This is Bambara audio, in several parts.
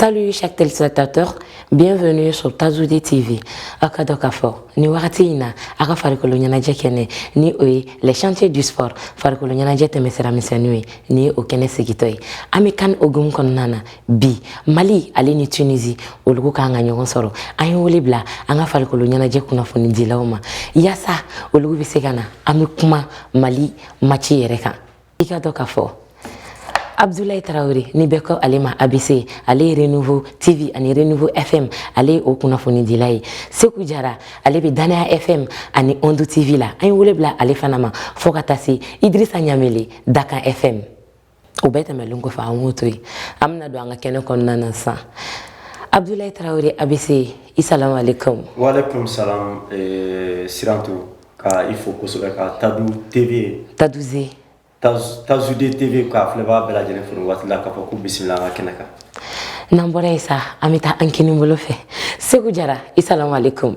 Salut chers téléspectateurs, bienvenue sur Tazoudi TV. A k'a dɔn k'a fɔ, nin wakati in na an ka farikolo ɲɛnajɛ kɛnɛ ni o ye les sentiers du sport farikolo ɲɛnajɛ tɛmɛsira misɛnniw ye ni o kɛnɛ sigitɔ ye. An bɛ CAN hukumu kɔnɔna na bi mali ale ni tunisi olugu kan ka ɲɔgɔn sɔrɔ an ye wele bila an ka farikolo ɲɛnajɛ kunnafonidilaw ma yaasa olugu bɛ se ka na an bɛ kuma mali maci yɛrɛ kan i k'a dɔn k'a fɔ abdulayi tarawele ni bɛɛ ko ale ma abc ale ye renouveau tv ani renouveau fm ale ye o kunnafonidila ye seku jara ale bɛ danaya fm ani ondu tv la an ye wele bila ale fana ma fo ka taa se idrisa ɲamele dakan fm o bɛɛ tɛmɛlen kɔfɛ an k'o to yen an bɛna don an ka kɛnɛ kɔnɔna na sisan abudulayi tarawele abc i salamu aleykum waaleykum salam eh, sirantu ka i fo kosɛbɛ ka tadu tv taduze tazude tv k'a filɛbaa bɛɛ lajɛlen fo waati la k'a fɔ ko bisimila an ka kɛnɛ kan n'an bɔra yen sa an bɛ taa an kini bolo fɛ seku jara i salamu aleykum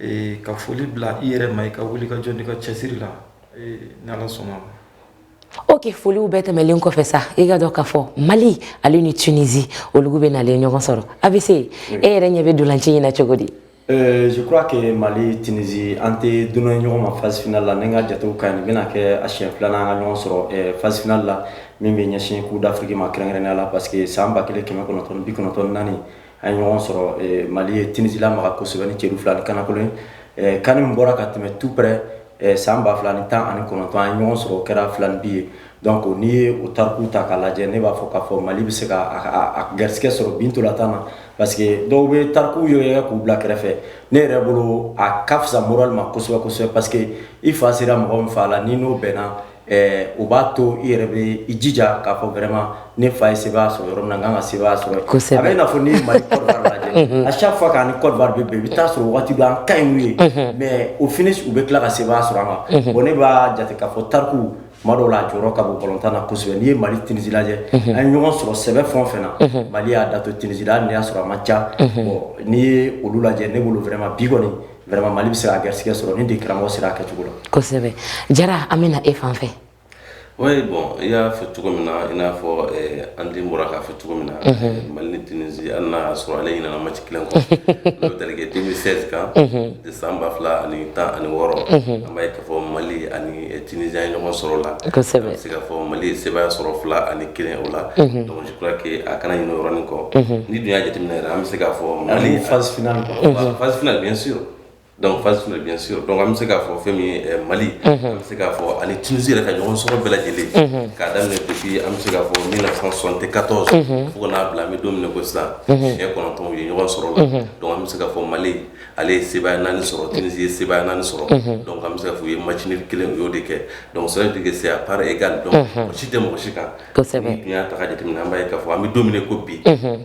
Ee ka foli bila i yɛrɛ ma i ka wulikajɔ n'i ka cɛsiri la ni ala sɔnna ok foliw bɛɛ tɛmɛlen kɔfɛ sa i k'a dɔn k'a fɔ mali ale ni tunizi olu bɛ na ɲɔgɔn sɔrɔ abc e yɛrɛ ɲɛ bɛ ntolaci in na cogo di je crois que mali tunizi an tɛ dunan ye ɲɔgɔn ma phase finale la ni n ka jate ka ɲi bɛna kɛ a siɲɛ filanan ka ɲɔgɔn sɔrɔ phase finale la min bɛ ɲɛsin coupe d'afrique ma kɛrɛnkɛrɛnnenya la parce que san ba kelen kɛmɛ kɔnɔntɔn bi kɔnɔntɔn naani A ye ɲɔgɔn sɔrɔ mali ye tunizi lamaga kosɛbɛ ni celu fila ni kanakolo ye can min bɔra ka tɛmɛ tout près san ba fila ni tan ani kɔnɔntɔn a ye ɲɔgɔn sɔrɔ o kɛra filaninbin ye donc n'i ye o tariku ta k'a lajɛ ne b'a fɔ k'a fɔ mali bɛ se ka garisɛgɛ sɔrɔ bi ntolatan na parce que dɔw bɛ tariku yɛrɛ ye k'u bila kɛrɛfɛ ne yɛrɛ bolo a ka fisa moral ma kosɛbɛ kosɛbɛ parce que i fa sera mɔgɔ min fa la n'i n'o bɛnna ɛɛ o b'a to i yɛrɛ bɛ i jija k'a fɔ vraiment ne fa ye sebaaya sɔrɔ yɔrɔ min na ka kan ka sebaaya sɔrɔ kosɛbɛ a bɛ i n'a fɔ n'i ye mali lajɛ à chaque fois k'an kɔ bɛ i bɛ t'a sɔrɔ waati dɔ an ka ɲi u ye mais au finish u bɛ tila ka sebaaya sɔrɔ an kan bon ne b'a jate k'a fɔ tariku ma dɔw la a jɔyɔrɔ ka bon balontan na kosɛbɛ n'i ye mali tunizi lajɛ a ɲɔgɔn sɔrɔ sɛbɛ fɛn o fɛn na mali y'a da to tunizi la n'i y'a sɔrɔ a man ca n'i ye olu lajɛ ne bolo vraiment bi kɔni Vraiment Mali bɛ se ka garisigɛ sɔrɔ ni degekaramɔgɔ sera a kɛcogo la. Kosɛbɛ Jara an bɛna e fan fɛ. Oui bon i y'a fɔ cogo min na, i n'a fɔ ɛɛ an den bɔra k'a fɔ cogo min na. Unhun! Mali ni Tunisie hali n'a y'a sɔrɔ ale ɲinɛna match kelen kɔ. Unhun! N'o tali kɛ 2016 kan. Unhun! De san 2016. Unhun! An b'a ye k'a fɔ Mali ani Tunisie an ye ɲɔgɔn sɔrɔ o la. Kosɛbɛ! An bɛ se k'a fɔ Mali ye sebaaya sɔrɔ 2 ani 1 o la. Unhun! Donc a kana ɲinɛ yɔrɔ in kɔ n'i dun y'a jateminɛ yɛrɛ an bɛ se k'a fɔ mali fafin fafin bɛ s dɔnku fafin bɛ bɛ s dɔnku an bɛ se k'a fɔ fɛn min mali an bɛ se k'a fɔ ani tunisi yɛrɛ ka ɲɔgɔn sɔrɔ bɛɛ lajɛlen k'a daminɛ depuis an bɛ se k'a fɔ min sɔn tɛ katɔ fo ka n'a bila an bɛ don min na i ko sisan siɲɛ kɔnɔntɔn ye ɲɔgɔn sɔrɔ la dɔnku an bɛ se ka fɔ mali ale ye se naani sɔrɔ tunisi ye se naani sɔrɔ dɔnku an bɛ se f fɔ u ye mac kelen u y'o de kɛ dɔnku sira de se a pa e ka dɔn si tɛ mɔgɔ si kan kosɛbɛ tun y'a ta k'a jateminɛ an b'a ye k'a fɔ an bɛ don min na i ko bi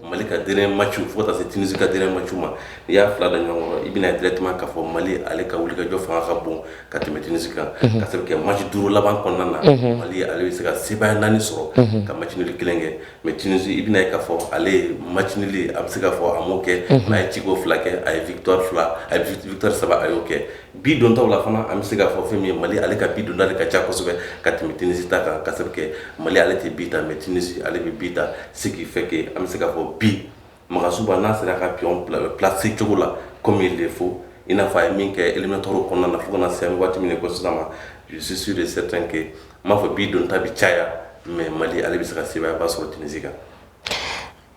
mali ka dernier maciw fo ka taa se tunisi ka dernier maciw ma n'i y'a fila da ɲɔgɔn kɔrɔ i bɛn'a ye directement k'a fɔ mali ale ka wulikajɔ fanga ka bon ka tɛmɛ tunisi kan k'a sabu kɛ maci duuru laban kɔnɔna na mali ale bɛ se ka sebaaya naani sɔrɔ ka match nul kelen kɛ mais tunisi i bɛn'a ye k'a fɔ ale match nul a bɛ se k'a fɔ a m'o kɛ mais a ye ciko fila kɛ a ye victoire fila a ye victoire saba a y'o kɛ Bi dontaw la fana an bɛ se k'a fɔ fɛn min ye Mali ale ka bi don ta de ka ca kosɛbɛ ka tɛmɛ Tunisie ta kan k'a sabu kɛ Mali ale tɛ bi ta mais Tunisie ale bɛ bi ta ce qui fait que an bɛ se k'a fɔ bi Magasuba n'a sera ka pion placer cogo la comme il le faut i n'a fɔ a ye min kɛ éliminatoires kɔnɔna na fo ka na se an bɛ waati min na i ko sisan moi je suis sûr et certain que k'a fɔ bi don ta bɛ caya mais Mali ale bɛ se ka sebaayaba sɔrɔ Tunisie kan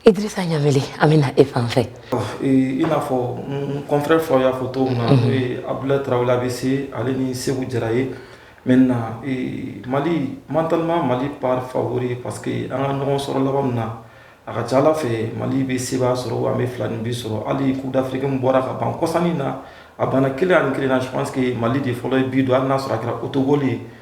Idrissa Ɲameli an bɛ na e fan fɛ. I n'a fɔ n confrère fɔ y'a fɔ cogo min na n'o ye Abdulaye Tarawele ABC ale ni Seku Jara ye maintenant Mali mentalement Mali part favori parce que an ka ɲɔgɔn sɔrɔ laban ninnu na a ka c'a la fɛ Mali bɛ sebaaya sɔrɔ wa an bɛ filaninbin sɔrɔ hali coupe d'Afrique in bɔra ka ban kɔsa in na a banna kelen ani kelen na je pense que Mali de fɔlɔ ye bi don hali n'a sɔrɔ a kɛra autogol ye.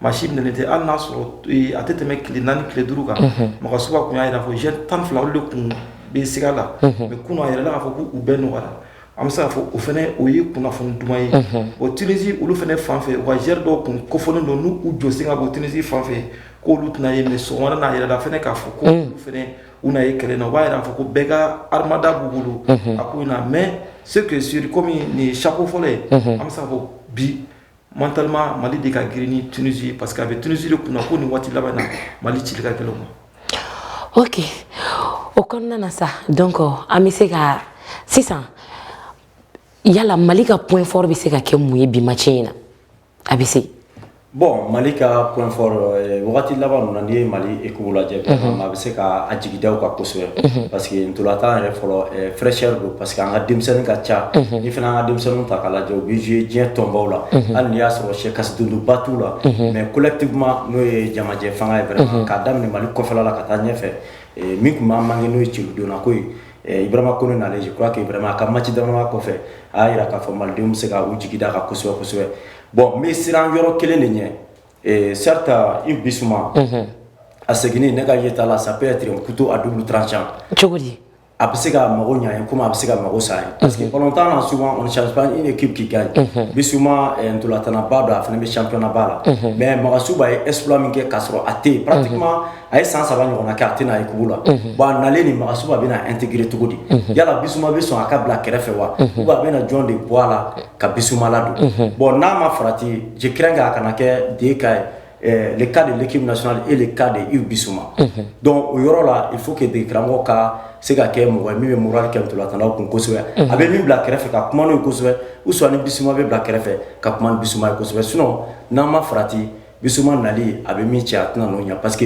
Ma si minɛ tɛ hali y'a sɔrɔ a tɛ tɛmɛ tile naani tile duuru kan mɔgɔ sugu tun y'a jira k'a fɔ joueur tan ni fila olu de tun bɛ siga la mais kun a yɛrɛ k'a fɔ k'u bɛɛ nɔgɔya an bɛ se' fɔ o fana o ye kunnafoni duman ye o tunisi olu fana fan fɛ wa joueur dɔw tun ko fɔlen don n' u jɔsi ka bɔ tunisi fan fɛ k'olu tɛna ye so wɛrɛ n'a yɛrɛ fana k'a fɔ ko u na ye kɛlɛ na u b'a jira fɔ ko bɛɛ ka hadamada b' bolo a ko mais ce qui est sûr kɔmi nin ye sakɔ fɔlɔ ye an bɛ se fɔ bi Mentalement mali de ka girin ni tunisi parce que a bɛ tunisi de kunna ko nin waati laban na mali cili ka gɛlɛn u ma ok o kɔnɔna na sa donc an bɛ se ka sisan yala mali ka point fort bɛ se ka kɛ mun ye bi maci in na a bɛ se bɔn mali ka p wagati laban ninnu n'i ye mali e lajɛ a bɛ se ka jigi da a kan kosɛbɛ parce que tora tan yɛrɛ fɔlɔ fɛyɛnri don pa parce que an ka denmisɛnnin ka ca ni fana an ka denmisɛnnin ta k'a lajɛ u bɛ ye diɲɛ tɔnbaw la hali ni y'a sɔrɔ sɛ kasi donba tu la mais collectivement n'o ye jamajɛ fanga ye fɛ k'a daminɛ mali kɔfɛ la ka taa ɲɛfɛ min tun b'a manquer n'o ye bidonna ko ibrahima kone nana k' a ka maci dama kɔfɛ a y'a jira k'a fɔ malidenw bɛ se k'u jigi da a kan kosɛbɛ kosɛbɛ bɔn n bɛ siran yɔrɔ kelen de ɲɛ Ee certes Yves Bisuma a seginni ne ka yeta la ça peut être un couteau à double tranchant a bɛ se ka mago ɲɛ ye ko a bɛ se ka mago sa ye parce que kɔnɔn tan s ni ke kika Bisuma talentba don a fana bɛ championnatba la mais Magasuba ye exploit min kɛ k'a sɔrɔ a tɛ yen parce que a ye san saba ɲɔgɔn kɛ a tɛ na équipe la bon a nalen ni Magasuba bɛna a intégrer cogo di yala Bisuma bɛ sɔn a ka bila kɛrɛfɛ wa a bɛna jɔn de bɔ a la ka Bisuma ladon bon n'a ma farati je crains que a kana kɛ deux cas ye le cas de l'équipe nationale et le cas de Yves Bisuma donc o yɔrɔ la il faut que degekaramɔgɔ ka se ka kɛ mɔgɔ min bɛ moral kɛ ntolatannaw kun kosɛbɛ a bɛ min bila kɛrɛfɛ ka kuma n'o ye kosɛbɛ ou soit ni Bisuma bɛ bila kɛrɛfɛ ka kuma ni Bisuma ye kosɛbɛ sinon n'an ma farati Biuman nali a bɛ min cɛ a tɛna n'o ɲɛ parce que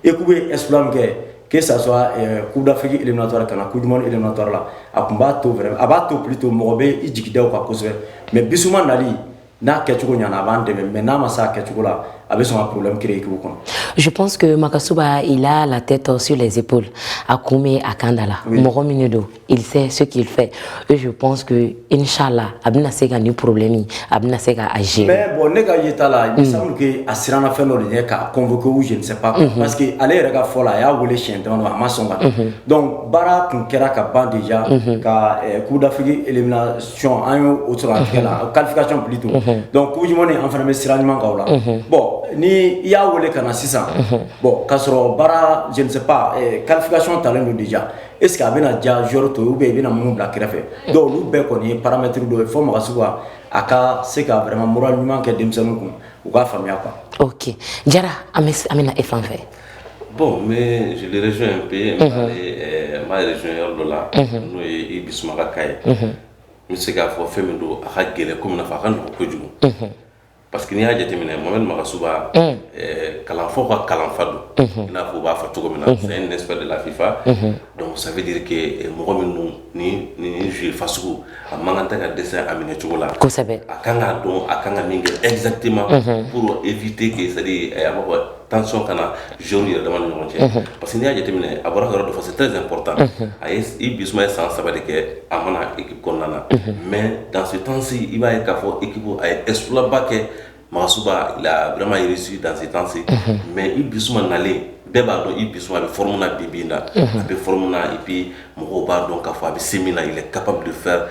e tun bɛ es min kɛ ke sasɔ kudafiki irematɔ ka na ku duman irematɔ la a tun b'a to a b'a to pbi to mɔgɔ bɛ i jigi da kan kosɛbɛ mɛ biuman nali n'a kɛcogo ɲ a b'an dɛmɛ mɛ n'a ma sa a kɛcogo la a bɛ sɔn kulu kelen k'u kɔnɔ jupsseke ma kasiso' i la la tɛ tɔso laepo a kun bɛ a kanda la mɔgɔ min don il sait ce qu'il fait. Et je pense que, Inch'Allah, a bɛna se ka nin problème, a bɛna se k'a gérer. Mais bon, ne ka yeta la, il me mm. semble que a sirana fɛn dɔ de ɲɛ k'a convoquer ou je ne sais pas. Mm-hmm. Parce que ale yɛrɛ ka fɔ la, a y'a wele siɲɛ dama dama, a ma sɔn ka. Mm-hmm. Donc baara kun kɛra ka ban déjà mm-hmm. ka eh, Coupe d'Afrique élimination an y'o o sɔrɔ a tigɛ la, qualification plutôt. Donc Coupe du Monde an fana bɛ sira ɲuman kan o la. Bon ni i y'a wele ka na sisan, bon k'a sɔrɔ baara je ne sais pas eh, qualification talen don déjà. est-ce que a bɛna diya joueur tɔw bɛɛ i bɛna minnu bila kɛrɛfɛ donc olu bɛɛ kɔni ye paramɛtiri dɔ ye fɔ Magasuba a ka se ka vraiment moral ɲuman kɛ denmisɛnnin kun u k'a faamuya kan ok Jara an bɛna e fan fɛ bon n bɛ Jeli rejoindre un peu n b'a rejoindre yɔrɔ dɔ la n'o ye Yves Bisuma ka cas ye n bɛ se k'a fɔ fɛn min don a ka gɛlɛn ko min fɔ a ka nɔgɔn kojugu Parce que n'i y'a jateminɛ Mohamɛdi Magasuba un ɛɛ kalanfaw ka kalanfa don unhun i n'a fɔ u b'a fɔ cogomin na unhun c'est un expert de la FIFA unhun donc ça veut dire que mɔgɔ min don nin nin joueur fasugu a man kan tɛ ka dɛsɛ a minɛ cogo la kosɛbɛ a ka kan k'a dɔn a ka kan ka min kɛ exactement unhun pour éviter que c'est à dire ɛɛ a bɛ fɔ tension ka na joueurw yɛrɛ dama ni ɲɔgɔn cɛ parce que n'i y'a jateminɛ a bɔra yɔrɔ dɔ fɔ c'est très important a ye Yves Bisuma ye san saba de kɛ a ma na équipe kɔnɔna na mais dans ce temps ci i b'a ye k'a fɔ équipe a ye exploit ba kɛ Magasuba il a vraiment réussi dans ce temps ci mais Yves Bisuma nalen bɛɛ b'a dɔn Yves Bisuma bɛ forme na bi bi in na a bɛ forme na et puis Mɔgɔw b'a dɔn k'a fɔ a bɛ se min na il est capable de faire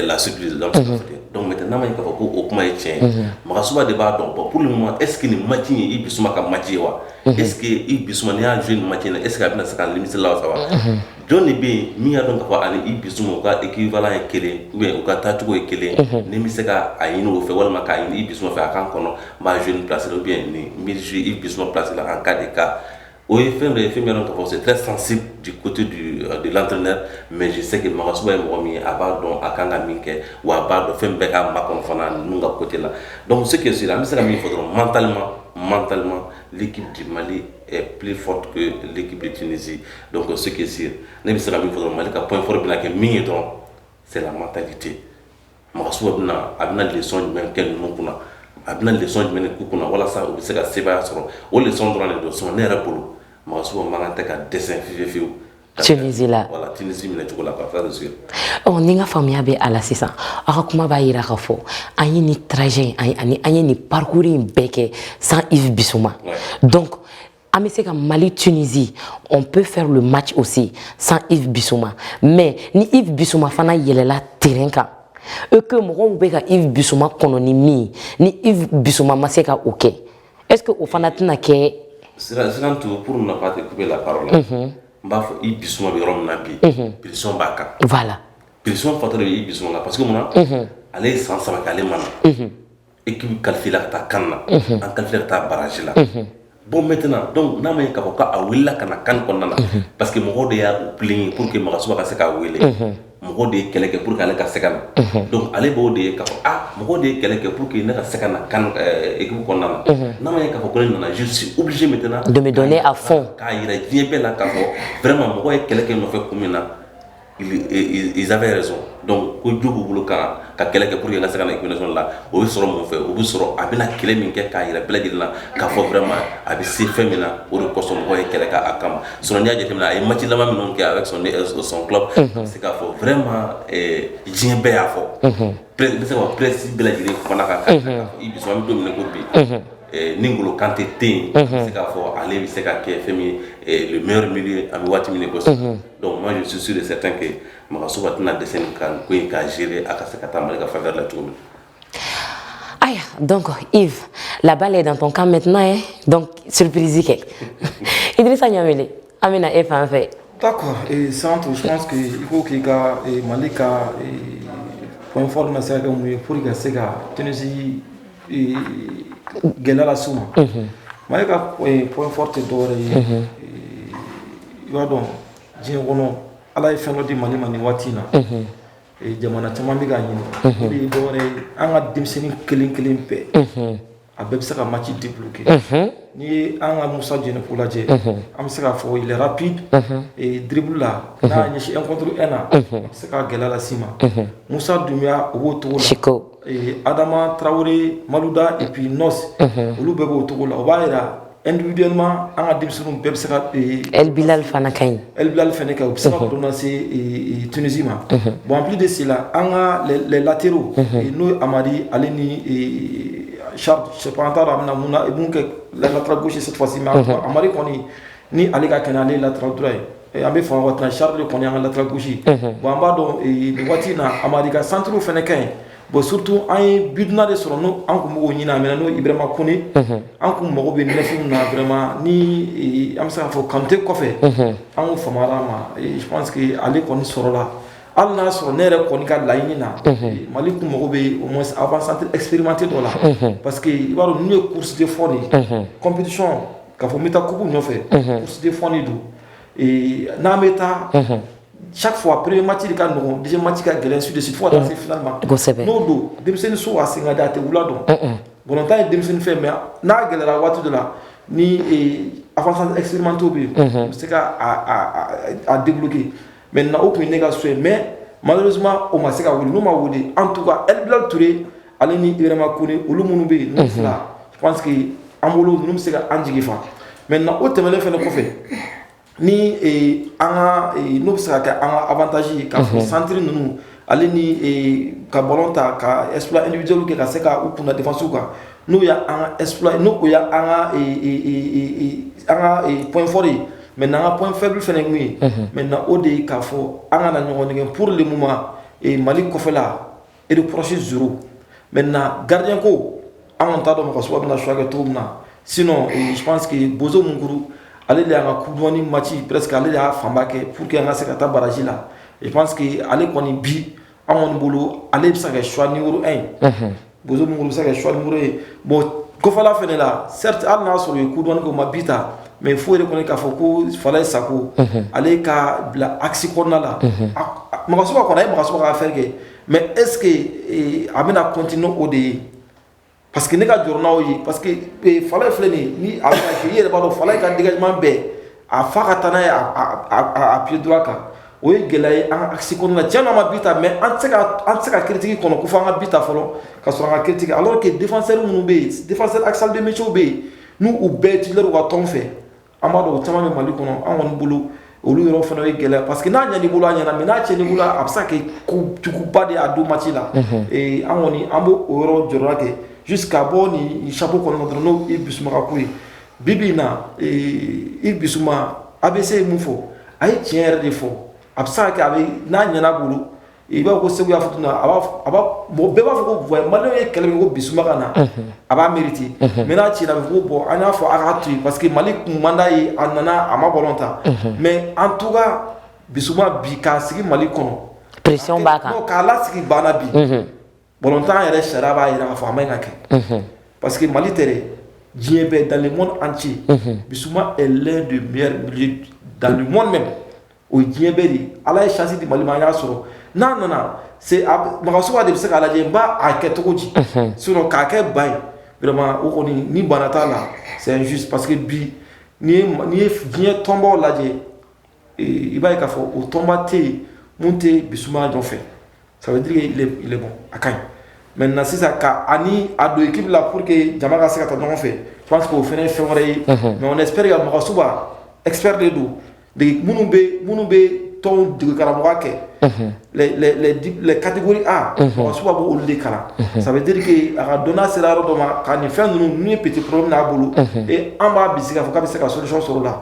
la suite de la unhun donc maintenant n'a ma ɲɛ k'a fɔ ko o kuma ye tiɲɛ ye unhun Magasuba de b'a dɔn bon pour le moment est ce que nin match in Yves Bisuma ka match ye wa unhun est ce que Yves Bisuma n'i y'a jouer nin match in na est ce que a bɛna se k'a nimisi lawasa wa unhun jɔn de bɛ yen min y'a dɔn k'a fɔ a ni Yves Bisuma u ka équivalent ye 1 ye ou bien u ka taacogo ye 1 ye unhun ni n bɛ se ka a ɲini o fɛ walima k'a ɲini Yves Bisuma fɛ a ka n kɔnɔ n b'a jouer nin place la ou bien nin n bɛ jouer Yves Bisuma place la en cas de cas O ye fɛn dɔ ye fɛn min y'a dɔn k'a fɔ c'est très sensible du côté du euh, de l'entraîneur mais je sais que Magasuba ye mɔgɔ min ye a b'a dɔn a kan ka min kɛ wa a b'a dɔn fɛn bɛ k'a makɔnɔ fana ninnu ka côté la donc ce qui est sûr an bɛ se ka min fɔ dɔrɔn mentalement mentalement l'équipe du Mali est plus forte que l'équipe de Tunisie donc ce qui est sûr ne bɛ se ka min fɔ dɔrɔn Mali ka point fort bɛna kɛ min ye dɔrɔn c'est la mentalité Magasuba bɛna a bɛna leçon jumɛn kɛ ninnu kunna a bɛna leçon jumɛn k'u kunna walasa u bɛ se ka sebaaya sɔrɔ o leçon dɔrɔn de don sinon ne yɛrɛ bolo Magasuba man kan tɛ ka dɛsɛ fi fiyewu la minɛ cogo la ɔ ni n ka faamuya bɛ a la sisan aw ka kuma b'a jira ka fɔ an ye nin trajet ani an ye nin parcours in bɛɛ kɛ sans Yves Bisuma an bɛ se ka mali tunisie on peut faire le match aussi sans yves bisuma mais ni yves bisuma fana yɛlɛla terrain kan ce que mɔgɔw bɛ ka yves bisuma kɔnɔ ni min ni yves bisuma ma se ka o kɛ est ce que o fana tɛna kɛ santo pour ne pas te couper la parole mm -hmm. n b'a fɔ yves bisuma bɛ yɔrɔ min na bi pression b'a kan voilà pression fatɔ de bɛ yves bisuma kan parce que mun na ale ye san saba kɛ ale ma na Équipe qualifiéla ka taa CAN na an qualifiéla ka taa barrage la bon maintenant donc n'a ma ye ka fɔ k'a wulila ka na CAN kɔnɔna na parce que mɔgɔ de y'a plainte kɛ pour que Magasuba ka se k'a weele mɔgɔ de ye kɛlɛ kɛ pour ale ka se ka na donc ale b'o de ye ka fɔ mɔgɔ de ye kɛlɛ kɛ pour que ne ka se ka na équipe kɔnɔna na n'a ma ye ka fɔ ne nana je suis obligé maintenant de me donner à fond k'a jira diɲɛ bɛɛ la ka fɔ vraiment mɔgɔ ye kɛlɛ kɛ n nɔfɛ kun min na Ils avaient raison donc ko jo b'u bolo ka ka kɛlɛ kɛ pour que n ka se ka na sélection la o bɛ sɔrɔ mun fɛ o bɛ sɔrɔ a bɛna kɛlɛ min kɛ k'a jira bɛɛ lajɛlen na k'a fɔ vraiment a bɛ se fɛn min na o de kosɔn mɔgɔw ye kɛlɛ kɛ a kama sinon n'i y'a jateminɛ a ye match laban minnu kɛ avec son son club a bɛ se k'a fɔ vraiment diɲɛ bɛɛ y'a fɔ n bɛ se k'a fɔ presse bɛɛ lajɛlen kumana a kan i dusu an bɛ don min na i ko bi ni N'Golo Kante tɛ yen n bɛ se k'a fɔ ale bɛ se ka kɛ fɛn min ye le meilleur milieu an bɛ waati min na i ko sisan. Donc moi je suis sûr et certain que Magasuba tɛna dɛsɛ nin CAN ko in k'a gérer a ka se ka taa Mali ka faveur la cogo min. Aya donc Yves la balle est dans ton camp maintenant hein donc surprise kɛ Idrissa Niamele an bɛna e fan fɛ. D'accord et Santo je pense que il faut k'i ka Mali ka point fort na se ka kɛ mun ye pour que i ka se ka Tunisie gɛlɛya lase u ma mali ka point fort tɛ dɔwɛrɛ ye i b'a dɔn diɲɛ kɔnɔ ala ye fɛn dɔ di mali ma ni waati in na jamana caman bɛ ka ɲini dɔwɛrɛ an ka denmisɛnnin kelen kelen bɛɛ a bɛɛ bɛ se ka match débloquer n'i ye an ka musa jɛnɛpo lajɛ an bɛ se k'a fɔ ailier rapide dribblela n'a ɲɛsin un contre un na a bɛ se k ka gɛlɛya lase u ma musa dunbiya o b'o cogo adama tarawele maluda et puis nɔsi olu bɛɛ b'o cogo la o b'a jira individuellement an ka denmisɛnnin bɛɛ bɛ se kabilali fana ka ɲi ebilali fana kɛ u bɛ se ka donna se tunisi ma bon en plus de cela an ka les latéraux n'o ye hamari ale ni charles ça dépendra a bɛna mun i kɛ latéral gauche ye hamari kɔni ni ale ka kɛnɛ ale latéral droit ye An bɛ waati in na charles kɔni an ka latéral gauche ye bon an b'a dɔn waati in na hamari ka centrew fana ka ɲi bon surtout an ye bidonna de sɔrɔ n' an tun b' ɲinin a minɛ n'o ibrahima kone an tun mago bɛ neuf in na vraiment ni an bɛ se k' fɔ kanute kɔfɛ an fa ma sigi ale kɔni sɔrɔla an y'a sɔrɔ ne yɛrɛ kɔni ka laɲini na mali tun mago bɛ avant-centre expérimenté dɔ la parce que i b'a dɔn nin ye course de fond ye compétition ka fɔ n bɛ taa kuku nɔfɛ kurusi de fɔɔni don n'an bɛ taa sa fɔ a perere mati ka nɔgɔ di mati ka gɛlɛn su desi fo ka se fila ma kosɛbɛ n'o don denmisɛnnin so a sen ka da a tɛ wula dɔn bɔnta ye denmisɛnnin fɛn mɛn n'a gɛlɛyayara waati de la ni a fana esirimantɔ bɛ yen n bɛ se ka a denbuki mɛ na o tun ne ka so yen mɛ ma o ma se ka wuli n'u ma wuli an tun ka e bila toraur Ale ni ibrahima kone olu minnu bɛ yen que an bolo bɛ se ka an jigi fa maintenant o tɛmɛnen fana kɔfɛ ni an n'o bɛ se ka kɛ an ka avantage ka fɔ centre ninnu ale ni ka bɔ ta ka esjɛw kɛ ka se ka u kunna défensew kan n'u y' an ka point fort ye mais an ka point faible fana tun ye maintenant o de ka fɔ an ka na ɲɔgɔn problème mali kɔfɛla e de psi z maintenant gardien ko an t'a dɔn magasuba bɛna choix kɛ to min na si jigi boso munkoro ale de y' ka coupe du monde mati presque ale de y'a fanba kɛ pour que an ka se ka taa baraji la je pense jigi ale kɔni bi an kɔni bolo ale bɛ se ka suwa ni ye bo minnu bɛ se ka suwa niuru ye bon kɔfɛla fana la seri an y'a sɔrɔ ye coupe du monde ko ma bi ta mais le fait de kɔni k'a fɔ ko falaye sako ale ka bila axe kɔnɔna la makanso kɔnɔ a ye makanso' fɛn kɛ mɛ eseke a bɛna kɔnt n' o de ye pa que ne ka jɔn n'aw ye pa que fa filɛ nin ni i yɛrɛ b'a dɔn fa ka deli ɲuman bɛɛ a fa ka taa n'a ye a pdu kan o ye gɛlɛya ye an kasi kɔnɔ na cɛ' ma bi ta mɛ an an se ka kitigi kɔnɔ ko fo an ka bi ta fɔlɔ ka sɔrɔ an ka kitigi ala kɛ denfasɛ minnu bɛ yen dafasɛ asabimiw bɛ yen n'u u bɛɛ ci ka tɔn fɛ an b'a dɔn o caman bɛ mali kɔnɔ an kɔni bolo olu yɔrɔ fana ye gɛlɛya parce que n'a ɲɛna i bolo a ɲɛna mais n'a tiɲɛna i bolo a bɛ se ka kɛ ko juguba de a don mati la ee an kɔni an b'o o yɔrɔ jɔrɔ kɛ jusqu'à ka bɔ nin chapeau kɔnɔ dɔrɔn n'o Yves Bissouma ka ko ye bi bi in na ee Yves Bissouma ABC ye mun fɔ a ye tiɲɛ yɛrɛ de fɔ a bɛ se ka kɛ a bɛ n'a ɲɛna a bolo i b'a fɔ ko segu y'a fɔ na a bɛɛ b'a fɔ ko voilà mali ye kɛlɛ ko Bissouma ka na a b'a mériter mais n'a tiɲɛna bɛɛ ko bon an y'a fɔ a ka to yen parce que mali ko man d'a ye a nana a ma ballon tan mais en tout cas Bissouma bi k'a sigi mali kɔnɔ pression b'a kan k'a lasigi banc na bi Bɔntan yɛrɛ sariya b'a jira a fɔ a ma ka kɛ pa que mali tɛ diɲɛ bɛ dan mɔn an ci bi lɛn de mi dan mɔn mɛn o diɲɛ bɛ de ala ye sisi di mali y'a sɔrɔ n'a nana makanso de bɛ se k' lajɛ n b'a kɛ cogo di s k'a kɛ ba ye o kɔni ni bara t'a la sɛsu pa que bi ye diɲɛ tɔnbaw lajɛ i b'a ka fɔ o tɔnba tɛ yen tɛ bisimila jɔfɛ ça veut dire qu'il est, il est bon a ka ɲi maintenant sisan ka ani a don équipe la pour que jama ka se ka taa ɲɔgɔn fɛ je pense que o fana ye fɛn wɛrɛ ye mais on espère que Magassouba expert de don dege minnu bɛ minnu bɛ tɔnw dege karamɔgɔya kɛ les les les dip- les catégories A Magassouba b'o olu de kalan ça veut dire que a ka dɔnniya sera yɔrɔ dɔ ma ka nin fɛn ninnu n'u ye petit problème n'a bolo et an b'a bisigi k'a fɔ k'a bɛ se ka solution sɔrɔ o la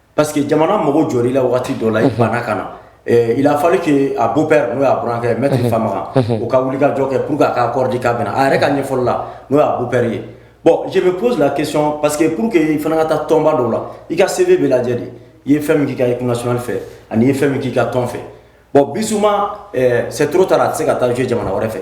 Pa que jamana mɔgɔ jɔ i la waati dɔ la i banna ka na i lafali k' a bo bɛɛ n'o y'akɛ mɛ tɛ fa u ka wuli ka jɔ kɛ pur a ka kɔrɔdi k'a a yɛrɛ ka ɲɛfɔlɔ la n'o y'a bu bɛri ye bɔn jɛ bɛ psila kecon pa que pur que i fana ka taa tɔnba dɔw la i ka sebe bɛ lajɛ de i ye fɛn min ka i kunnas fɛ ani ye fɛn min k'i ka tɔn fɛ bɔn bisimila sɛ taara a tɛ se ka taa jo jamana wɛrɛ fɛ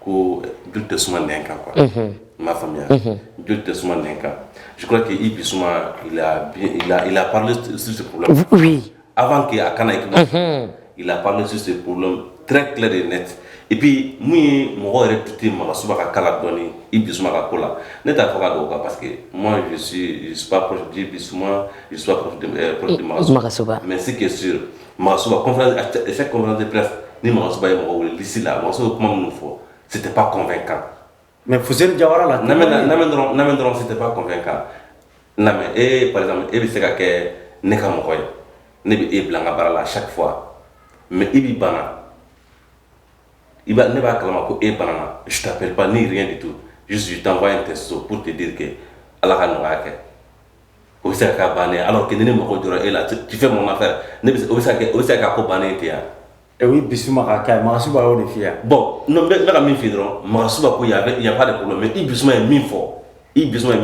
Ko du tɛ suma nɛn kan quoi unhun i m'a faamuya unhun du tɛ suma nɛn kan je crois que Yves Bissouma il a bien il a il a parlé de sur ce problème là oui avant que a ka na équipe nationale unhun il a parlé sur ce problème très clair et net et puis mun ye mɔgɔ yɛrɛ douter Magassouba ka cas la dɔɔni Yves Bissouma ka ko la ne t'a fɛ ka don o kan parce que moi je suis je suis pas proche d'Yves Bissouma je suis pas proche de m ɛ proche de Magassouba Magassouba mais ce qui est sûr Masuba de bila ni masuba ye mɔgɔ wulisi la maso bɛ kuma minnu fɔ si tɛ pan kɔnɔnfɛn kan mɛ fu jayara la dɔrɔn dɔrɔn si tɛ pan kɔnɔnfɛn kan na e pa e bɛ se ka kɛ ne ka mɔgɔ ye ne bɛ e bila ka baara la sa fɔ mɛ i bɛ banna i ne b'a kala ko e banna suta ni de to su tanfa in tɛ so porote de kɛ ala ka nɔgɔya kɛ O bɛ se ka ka bannen ala kelen ne mako jɔra e la tefɛ ma fɛ ne o se ka ko bannen tɛ yan e ye bisimila ma ka Magassouba y' de fi yan bɔn n bɛ ka min fɔ dɔrɔn Magassouba ko yan a yafa de ko mais Bissouma ye min fɔ Bissouma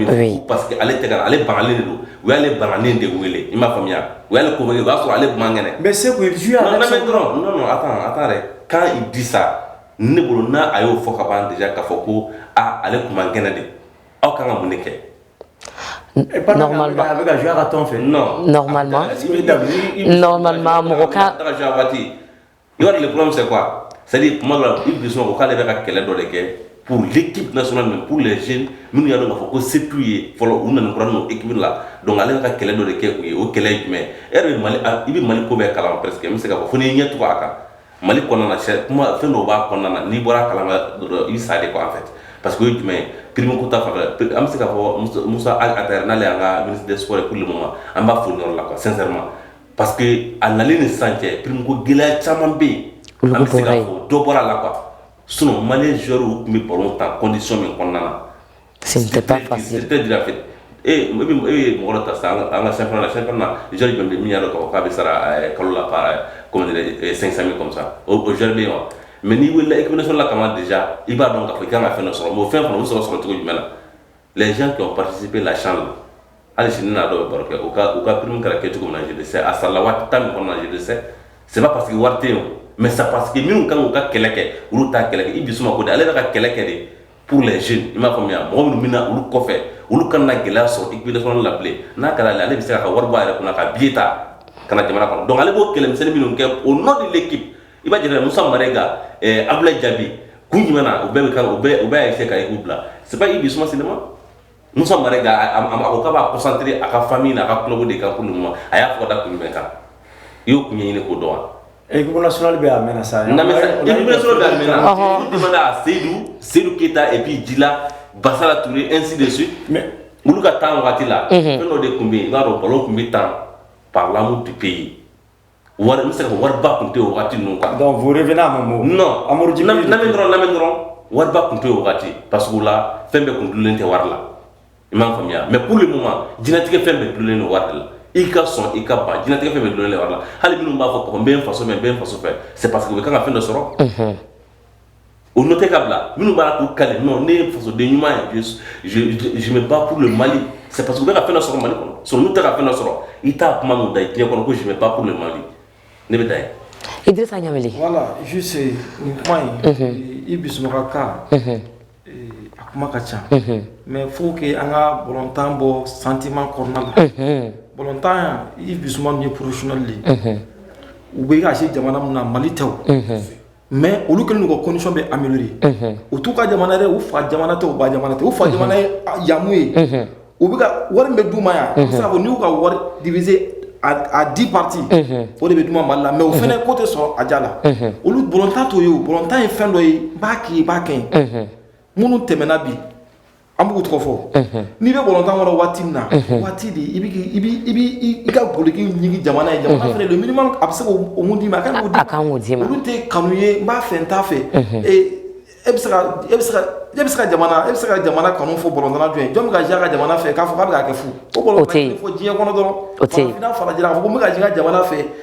parce que ale tɛ ale banalen don u y'ale banalen de wele i m'a faamuya u y'ale ko i b'a sɔrɔ ale man kɛnɛ mais se dɔrɔn a taara dɛ k'a disa ne bolo n'a a y'o fɔ ka ban de k'a fɔ ko aaa ale tun man kɛnɛ de aw kan ka mun de kɛ normalement normalement normalement mɔgɔ ka yɔrɔ le problème c'est quoi c'est à dire kuma dɔ la Bissouma ko k'ale bɛ ka kɛlɛ dɔ de kɛ pour l'équipe nationale mais pour les jeunes minnu y'a dɔn k'a fɔ ko se t'u ye fɔlɔ u nalen kura don équipe la donc ale bɛ ka kɛlɛ dɔ de kɛ u ye o kɛlɛ ye jumɛn ye e yɛrɛ bɛ mali i bɛ mali ko bɛɛ kalama presque n bɛ se k'a fɔ fo n'i ɲɛ tugu a kan mali kɔnɔna sɛ kuma fɛn dɔw b'a kɔnɔna na n'i bɔra a kalama dɔrɔn ça dégoûte en fait parce que o ye jumɛn ye prime ko ta fanfɛ pri- an bɛ se k'a fɔ Musa- Musa Ag Attaher n'ale y'an ka ministre des sports ye pour le moment an b'a fo nin yɔrɔ la quoi sincèrement parce que a nalen ni sisan cɛ prime ko gɛlɛya caman bɛ yen an bɛ se k'a fɔ dɔ bɔra a la quoi sinon malien joueurw tun bɛ ballon tan condition min kɔnɔna na C'était pas facile. C'était dur en fait. Et e bɛ e ye mɔgɔ dɔ ta sisan an ka championnat la championnat na joueur jumɛn bɛ min y'a dɔn k'a fɔ k'a bɛ sara ɛɛ kalo la par comment dirais-je 500 000 comme ça o o joueur bɛ yen wa mais n'i wulila équipe nationale la kaban déjà i b'a dɔn k'a fɔ i kan ka fɛn dɔ sɔrɔ mais o fɛn fana u bɛ sɔrɔ sɔrɔ cogo jumɛn na les gens qui ont participé la CHAN la hali sini n'a dɔw bɛ baro kɛ u ka u ka prime kɛra kɛ cogo min na je le sais a sarala waati temps min kɔnɔna na je le sais c'est pas parce que wari tɛ yen o mais c'est parce que minnu kan k'u ka kɛlɛ kɛ olu t'a kɛlɛ kɛ Bissouma ko de ale bɛ ka kɛlɛ kɛ de pour les jeunes i m'a faamuya mɔgɔ minnu bɛna olu kɔfɛ olu kana gɛlɛya sɔrɔ équipe nationale la bilen n'a kɛra ale bɛ se k'a ka wari bɔ a yɛrɛ kunna ka billet ta ka na jamana kɔnɔ donc ale b'o kɛlɛmisɛnnin minnu kɛ au nom de l'équipe i b'a jateminɛ Musa Marega eh, Abdoulaye Diaby kun jumɛn na u bɛɛ bɛ kan u bɛɛ u bɛɛ y'a essayer ka équipe bila c'est pas Yves Bissouma seulement Musa mara ko ka kɔsantere a ka fa min na a ka tulo de ka kun ma a y'a fɔ da kun bɛ kan i y'o tun ye ɲini ko dɔn wa s bɛ a mɛn sa mɛn seyidu seyidu keyita e b'i ji la basala tun ye esi de su olu ka taa waati la fɛn dɔ de tun bɛ yen n'a dɔn balo tun bɛ taa pamu tɛ pe ye wari n bɛ se k'a fɔ wariba tun tɛ yen o wagati ninnu quoi donc vous revenez à mon mot non Amadu Jibiri lamɛn lamɛn dɔrɔn lamɛn dɔrɔn wariba tun tɛ yen o wagati parce que o la fɛn bɛɛ tun dulonnen tɛ wari la i m'a faamuya mais pour le moment diɲɛnatigɛ fɛn bɛɛ dulonnen don wari de la i ka sɔn i ka ban diɲɛnatigɛ fɛn bɛɛ dulonnen don wari la hali minnu b'a fɔ ko n bɛ n faso fɛ n bɛ n faso fɛ c'est parce que u bɛ kan ka fɛn dɔ sɔrɔ. O nɔ tɛ ka bila minnu b'a k'u ka nɔ ne ye fasoden ɲuman ye je me bats pour le mali c'est parce que u bɛ ka fɛn sɔrɔ mali kɔnɔ so n'u tɛ ka fɛn sɔrɔ i t'a kuma mɛn u da diɲɛ kɔnɔ ko je me bats pour le mali ne bɛ da yen i desa ɲa voilà suse nin kuma in i bisimila a ka a kuma ka ca mais faut que an ka bolɔntan bɔ sentiment kɔnɔna bolɔntan i bisimila ye professionnel u bɛ ka jouer jamana min na mali tɛ mais olu kelen ka condition bɛ améliorer u t'u ka jamana u fa jamana tɛ u ba jamana tɛ u fa jamana ye yamu ye u bɛɛ ka wari bɛ d'u ma yan sabu n'u ka wari divisé à dix parties o de bɛ d'u ma mali la mais o fana ko tɛ sɔrɔ a diya la olu bolɔntan t'o ye bolɔntan ye fɛn dɔ ye ba k'i ba kɛ minnu tɛmɛna bi An b'u tɔgɔ fɔ n'i bɛ bolɔntan kɔnɔ waati min na waati de i ka goliki ɲini jamana ye jamana fana don minimum a bɛ se ka min d'i ma ka taa kanu ye n b'a fɛ n t'a fɛ e bɛ se ka jamana kanu fɔ bolɔntanna dɔ ye jɔn bɛ ka jouer a ka jamana fɛ k'a fɔ b'a kɛ fo diɲɛ kɔnɔ dɔrɔn fana jira a ko bɛ ka jouer a ka jamana fɛ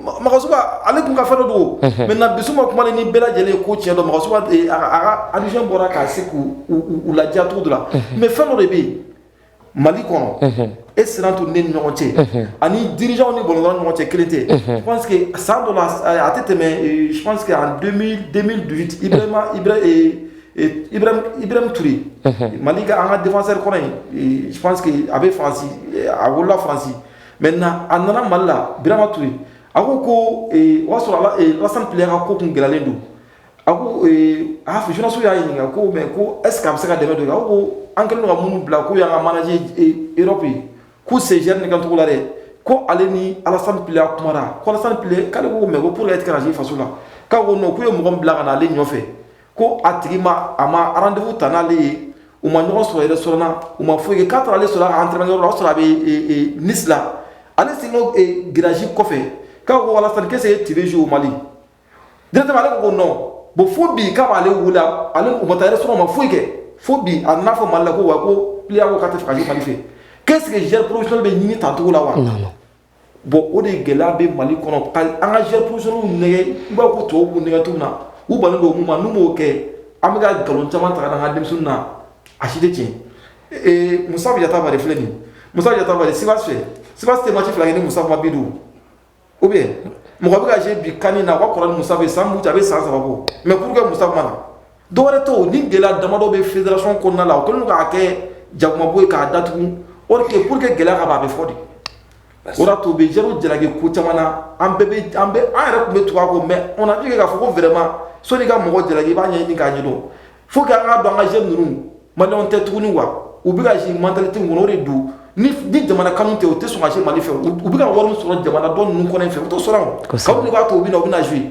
makanso ale tun ka fɛn dɔ don mɛ na bisimila suma kuma ni bɛɛ lajɛlen ko cɛn dɔn makanso alizɔn bɔra k'a se k'u lajɛcogo dɔ la mɛ fɛn dɔ de bɛ yen mali kɔnɔ e siran tun ni ɲɔgɔn cɛ ani dirijaw ni bɔn ɲɔgɔn cɛ kelen tɛ san dɔ a tɛ tɛmɛseke an ibrahim turi mali ka an ka denfasɛri kɔnɔ in a bɛ fansi a wolola fansi maintenant a nana mali la birama ture a ko ko o y'a sɔrɔ alasan pliya ka ko tun gɛlɛyalen don a ko a journalistes y'a ɲininka ko mais ko est-ce que a bɛ se ka dɛmɛ don a ko an kɛlen ka minnu bila ko y'an ka manager Europe ye ko sen ne ka cogo la dɛ ko ale ni alasan pliya kumana ko alasan pliya k'ale ko mais ko p tigɛ faso la k'a ko non k'u ye mɔgɔ bila ka na ale nɔfɛ ko a tigi ma a ma rendez-vous ta n'ale ye u ma ɲɔgɔn sɔrɔ restaurant na u ma foyi kɛ k'a taara ale sɔrɔ a ka entraînement yɔrɔ la o y'a sɔrɔ a bɛ e, e, Nice la ale sigilen e, garage kɔfɛ k'a ko wa alasan ko est-ce que tu veux jouer au Mali directement ale ko ko non bon fo bi k'a m'ale wele ale u ma taa restaurant u ma foyi kɛ fo bi a nana fɔ Mali la ko wa ko pliya ko k'a t'a fɛ ka jouer Mali fɛ ko est-ce que joueur professionnel bɛ ɲini tan cogo la wa bɔn o de gɛlɛya bɛ mali kɔnɔ ka an ka jɛ posɔniw nɛgɛn i b'a ko tɔw b'u nɛgɛn cogo na u bali don mun ma n'u b'o kɛ an bɛ ka nkalon caman ta ka na an ka denmisɛnnin na a si tɛ tiɲɛ ee musa yatabare filɛ nin musa yatabare sivas fɛ sivas tɛ match fila kɛ ni musa ma bi don ou bien mɔgɔ bɛ ka je bi kanni na o ka kɔrɔ ni musa bɛ san mutu a bɛ san saba bɔ mais pour que musa ma na Dɔwɛrɛ tɛ ni gɛlɛya damadɔ bɛ fédération kɔnɔna la o kɛlen k'a kɛ jakumabo ye k'a dat o tɛ pour que gɛlɛya ka' a bɛ fɔ de o to bɛ ja jalaki ko caman na an bɛɛ bɛ an yɛrɛ tun bɛ tu ko mɛ o na k'a fɔ ko vraiment sɔni ka mɔgɔ jalaki i b'a ɲɛ ɲini k'a ɲɛ don fo ka an ka don an ka jeune ninnu ma tɛ tuguni wa u bɛ ka si mantɛreti ŋ de don ni jamana kanu tɛ u tɛ sɔn ka jouer mali fɛ u bɛ ka wari sɔrɔ jamana tɔ ninnu kɔn fɛ u to sɔrɔ b'a to u bɛ na u bɛ na z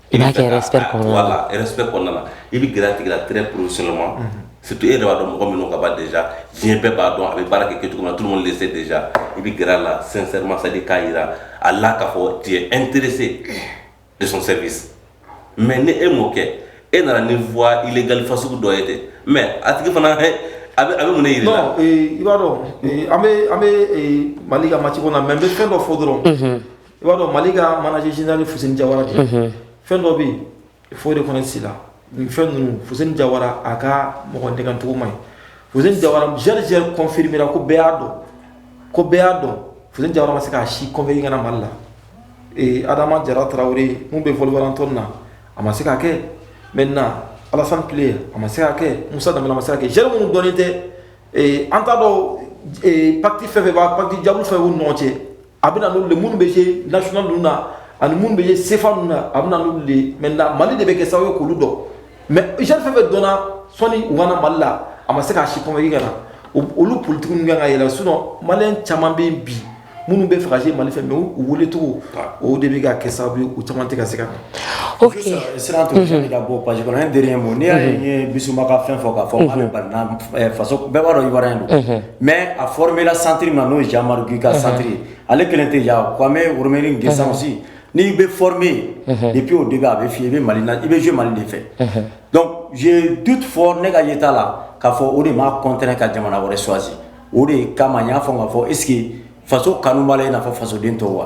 I b'a kɛ respect kɔnɔna na. Voilà respect kɔnɔna na. I bɛ gɛrɛ a tigi la très professionnellement. Unhun. Surtout e yɛrɛ b'a dɔn mɔgɔ min dɔnna ka ban déjà diɲɛ bɛɛ b'a dɔn a bɛ baara kɛ kɛcogo min na tout le monde le sait déjà i bɛ gɛrɛ a la sincèrement c'est à dire k'a jira a la k'a fɔ tu es intéressé de son service mais ni e m'o kɛ, e nana ni voie illégale fasugu dɔ ye ten mais a tigi fana ɛ a bɛ a bɛ mun de jira i la. Non ee i b'a dɔn ee an bɛ an bɛ ee Mali ka match ko la mais n bɛ fɛn dɔ fɔ dɔrɔn. Unhun. i b'a dɔn mali ka manager general ye Fuseni Jawara de ye, unhun, fɛn dɔ bɛ yen il faut o de kɔnɔ sen na nin fɛn ninnu Fuseni Jawara a ka mɔgɔ nɛgɛn cogo man ɲi Fuseni Jawara joueur joueur confirmé ra ko bɛɛ y'a dɔn ko bɛɛ y'a dɔn Fuseni Jawara ma se k'a si convaincre ka na Mali la ee Adama Jara Tarawele min bɛ Wolverhampton na a ma se k'a kɛ maintenant Alassane Pléa a ma se k'a kɛ Moussa Dembele a ma se k'a kɛ joueur minnu dɔnnen tɛ ee an t'a dɔn ee pacte fɛn o fɛn b'a pacte diable fɛn o fɛn b'u ni ɲɔgɔn cɛ a bɛna n'olu de minnu bɛ jouer national ninnu na ani minnu bɛ jouer CFA ninnu na a bɛna n'olu de maintenant mali de bɛ kɛ sababu ye k'olu dɔn mais jeune fɛn fɛn dɔnna sɔni u ka na mali la a ma se k'a si convaincre ka na olu politiki ninnu ka kan ka yɛlɛma sinon maliyɛn caman bɛ yen bi minnu bɛ fɛ ka jouer mali fɛ mais u welecogo o de bɛ ka kɛ sababu ye u caman tɛ ka se ka na ok siran to fɛn ka bɔ page kɔnɔ un dernier mot n'i y'a ye n ye bisuma ka fɛn fɔ k'a fɔ k'ale balila faso bɛɛ b'a dɔn ivoirien don Mɛ a fɔra santiri ma n'o ye jaru i ka santiri ale kelen tɛ yan ko an bɛ woroini gɛnsansi n'i bɛ f min i ppiyew de a bɛ fɔ i bɛ mali i bɛ z mali de fɛ dɔnku du fɔ ne ka ye t'a la k'a fɔ o de ma kɔnte ka jamana wɛrɛ swasi o de kama y'a fɔ ka fɔ e faso kanu' la ia fɔ fasoden tɔw wa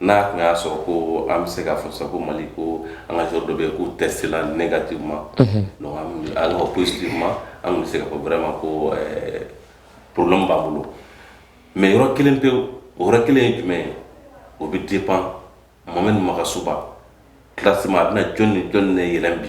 N'a tun y'a sɔrɔ ko an bɛ se k'a fɔ sa ko Mali ko an ka joueur dɔ bɛ yen k'o testela négativement unhun, donc an tun bɛ alors que positivement an tun bɛ se k'a fɔ vraiment ko ɛɛ problème b'an bolo mais yɔrɔ kelen pewu, o yɔrɔ kelen ye jumɛn ye? o bɛ dépend Mohamed Magasuba classement a bɛna jɔni ni jɔni de yɛlɛn bi?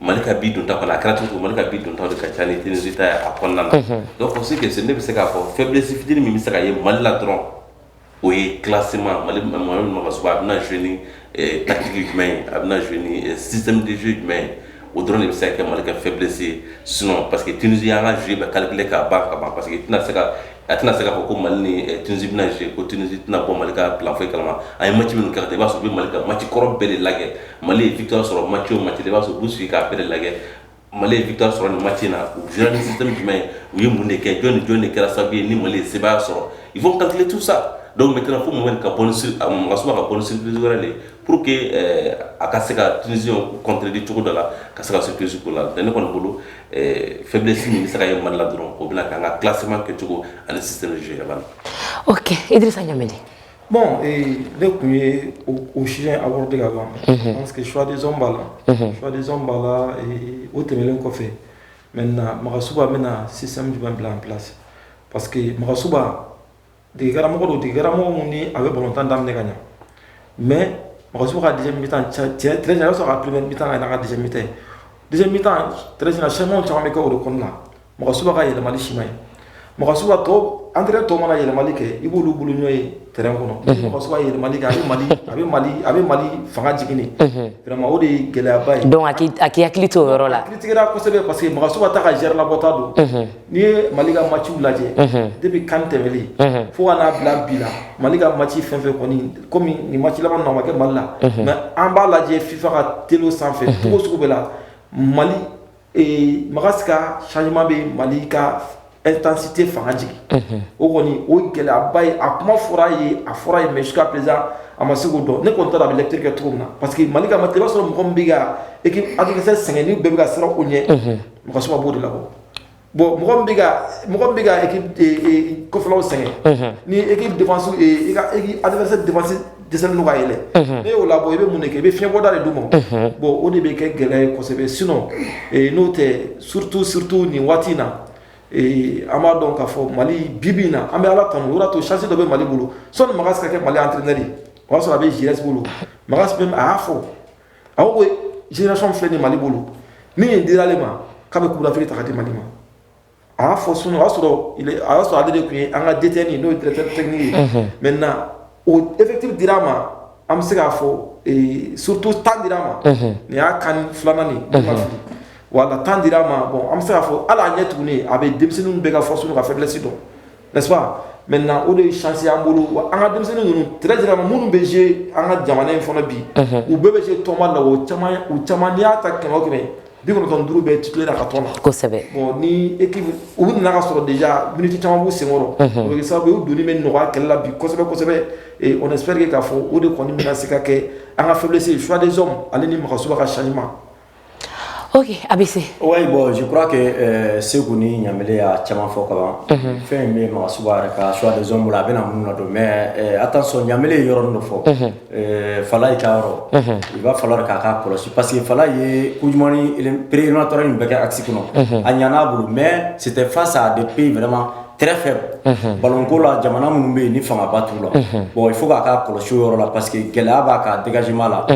Mali ka bi donta kɔni a kɛra cogo o cogo Mali ka bi dontaw de ka ca ni Tunisie ta ye a kɔnɔna na unhun donc pour ce qui est ce ne bɛ se k'a fɔ faiblesse fitini min bɛ se ka ye Mali la dɔrɔn o ye classement Mali ma Mali Magasuba a bɛna jouer ni ee tactique jumɛn ye a bɛna jouer ni e système de jeu jumɛn ye o dɔrɔn de bɛ se ka kɛ Mali ka faiblesse ye sinon parce que Tunisie y'an ka jeu bɛɛ calculer k'a ban ka ban parce que i tɛna se ka a tɛna se k'a fɔ ko mali ni eh, tunisi bɛna jouer ko tunisi tɛna bɔ mali ka plan foyi kalama a ye match minnu kɛ ka taa i b'a sɔrɔ u bɛ mali ka match kɔrɔ bɛɛ de lagɛ mali ye victoire sɔrɔ match o match la i b'a sɔrɔ u b'u sigi k'a bɛɛ de lagɛ mali ye victoire sɔrɔ nin match in na u jouera ni système jumɛn ye u ye mun de kɛ jɔn ni jɔn de kɛra sababu ye ni mali ye sebaaya sɔrɔ il faut calculer tout ça donc maintenant fo Mohamed ka bɔ ni sur- a Magasuba ka bɔ ni surprise wɛrɛ de ye pour que eh, a ka se ka tunisien contredire cogo dɔ la ka se ka surprise k'u la donc ne kɔni bolo Eh, faiblesse min bɛ se ka ye Mali la dɔrɔn o bɛna kɛ an ka classement kɛcogo ani système de jeu yɛrɛ la. Ok Idirisa Ɲamɛnde. Bon ee ne tun ye o sujet aborder ka ban. Unhun. Parce que choix des hommes b'a la. Unhun. Choix des hommes b'a la ee o tɛmɛnen kɔfɛ maintenant Magasuba bɛna système jumɛn bila en place? Parce que Magasuba degekaramɔgɔ don degekaramɔgɔ min ni a bɛ balontan daminɛ ka ɲa mais Magasuba ka deuxième mi-temps cɛ très bien i b'a sɔrɔ a ka premier mi-temps ka ɲi n'a ka deuxième mi-temps ye deuxième mi-temps très bien changement caman bɛ kɛ o de kɔnɔna Magasuba ka yɛlɛmali si man ɲi Magasuba tɔ entraîneur tɔw mana yɛlɛmali kɛ i b'olu bolonɔ ye terrain kɔnɔ Magasuba yɛlɛmali kɛ a bɛ mali a bɛ mali a bɛ mali fanga jigin de vraiment o de ye gɛlɛyaba ye donc a k'i hakili to o yɔrɔ la a critiquera kosɛbɛ parce que Magasuba t'a ka joueur labɔta dɔn N'i ye mali ka maciw lajɛ depuis CAN tɛmɛnen fo ka n'a bila bi la mali ka maci fɛn o fɛn kɔmi nin maci laban ma kɛ mali la mais an b'a lajɛ fifa ka télé sanfɛ cogo sugu bɛɛ la mali Magas ka changement bɛ mali ka intensité fanga jigin o kɔni o gɛlɛyaba ye a kuma fɔra a ye a fɔra a ye mais jusqu'à présent a ma se k'o dɔn ne kɔni t'a dɔn a bɛ lecture kɛ cogo min na parce que mali ka maci i b'a sɔrɔ mɔgɔ bɛ ka e hakili sɛgɛn ni bɛɛ bɛ ka siran u ɲɛ Magasuba b'o de labɔ bon mɔgɔ min bɛ ka équipe kɔfɛlaw sɛgɛn, unhun, ni équipe defense i ka adversaire defense dɛsɛlen don ka yɛlɛn, unhun, n'i y'o labɔ i bɛ mun de kɛ i bɛ fiɲɛbɔda de d'u ma, unhun, bon o de bɛ kɛ gɛlɛya ye kosɛbɛ sinon n'o tɛ surtout surtout nin waati in na ee an b'a dɔn k'a fɔ Mali bi bi in na an bɛ Ala tanu o de y'a to chance dɔ bɛ Mali bolo sɔni Magas ka kɛ Mali entraineur ye o y'a sɔrɔ a bɛ Giresse bolo Magas même a y'a fɔ a ko génération filɛ nin mali bolo ni nin dira ale ma k'a bɛ coupe d'Afrique ta ka di mali ma a y'a fɔ sunu o y'a sɔrɔ a y'a sɔrɔ ale de tun ye an ka DTN ye n'o ye directeur technique ye mhm. maintenant o effectif dira a ma an bɛ se k'a fɔ eh, surtout temps dira a ma mhm. nin y'a CAN filanan ni ne ma mhm. fili voilà temps dira a ma bon an bɛ se k'a fɔ hali a ɲɛ tuguni a bɛ denmisɛnninw bɛɛ ka force n'u ka faiblesse dɔn n'est-ce pas maintenant o de ye chance y'an bolo wa an ka denmisɛnnin ninnu très généralement minnu bɛ jouer an ka jamana ye fana bi u bɛɛ bɛ jouer tɔnba la o caman u caman n'i y'a ta kɛmɛ o kɛmɛ bi kɔnɔntɔn duuru bɛɛ titulaire a ka tɔn na kosɛbɛ bon ni équipe u nana ka sɔrɔ déjà minute caman b'u senkɔrɔ o bɛ kɛ sababu ye u donni bɛ nɔgɔya kɛlɛ la bi kosɛbɛ kosɛbɛ et on espère que k'a fɔ o de kɔni bɛna se ka kɛ an ka faiblesse ye choix des hommes ale ni Magasuba ka changement ok a bɛ se o ye bon je crois que Seku ni Ɲanbele y'a caman fɔ ka ban, unhun, fɛn in bɛ Magasuba yɛrɛ ka choix des hommes bolo a bɛna minnu ladon mais attention Ɲanbele ye yɔrɔnin dɔ fɔ, unhun, ɛɛ Falaye ka yɔrɔ, unhun, il va falloir que a k'a kɔlɔsi parce que Falaye ye Coupe du monde pré-éliminatoire nin bɛɛ kɛ axe kɔnɔ, unhun, a ɲana a bolo mais c'etait face à des pays vraiment très faibles ballon ko la jamana minnu bɛ yen ni fangaba t'u la bon fo a k'a kɔlɔsi yɔrɔ la parce que gɛlɛya b'a ka dégagement la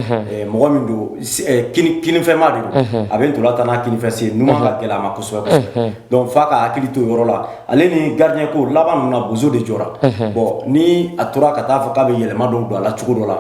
mɔgɔ min don kfɛnma de don a bɛ ntola tan n'a kfɛ se n ka gɛlɛya ma kosɛbɛ donc fo a ka hakili to yɔrɔ la ale ni gardien ko laban na bo de jɔra bon ni a tora ka taa fɔ k'a bɛ yɛlɛma don don a la cogo dɔ la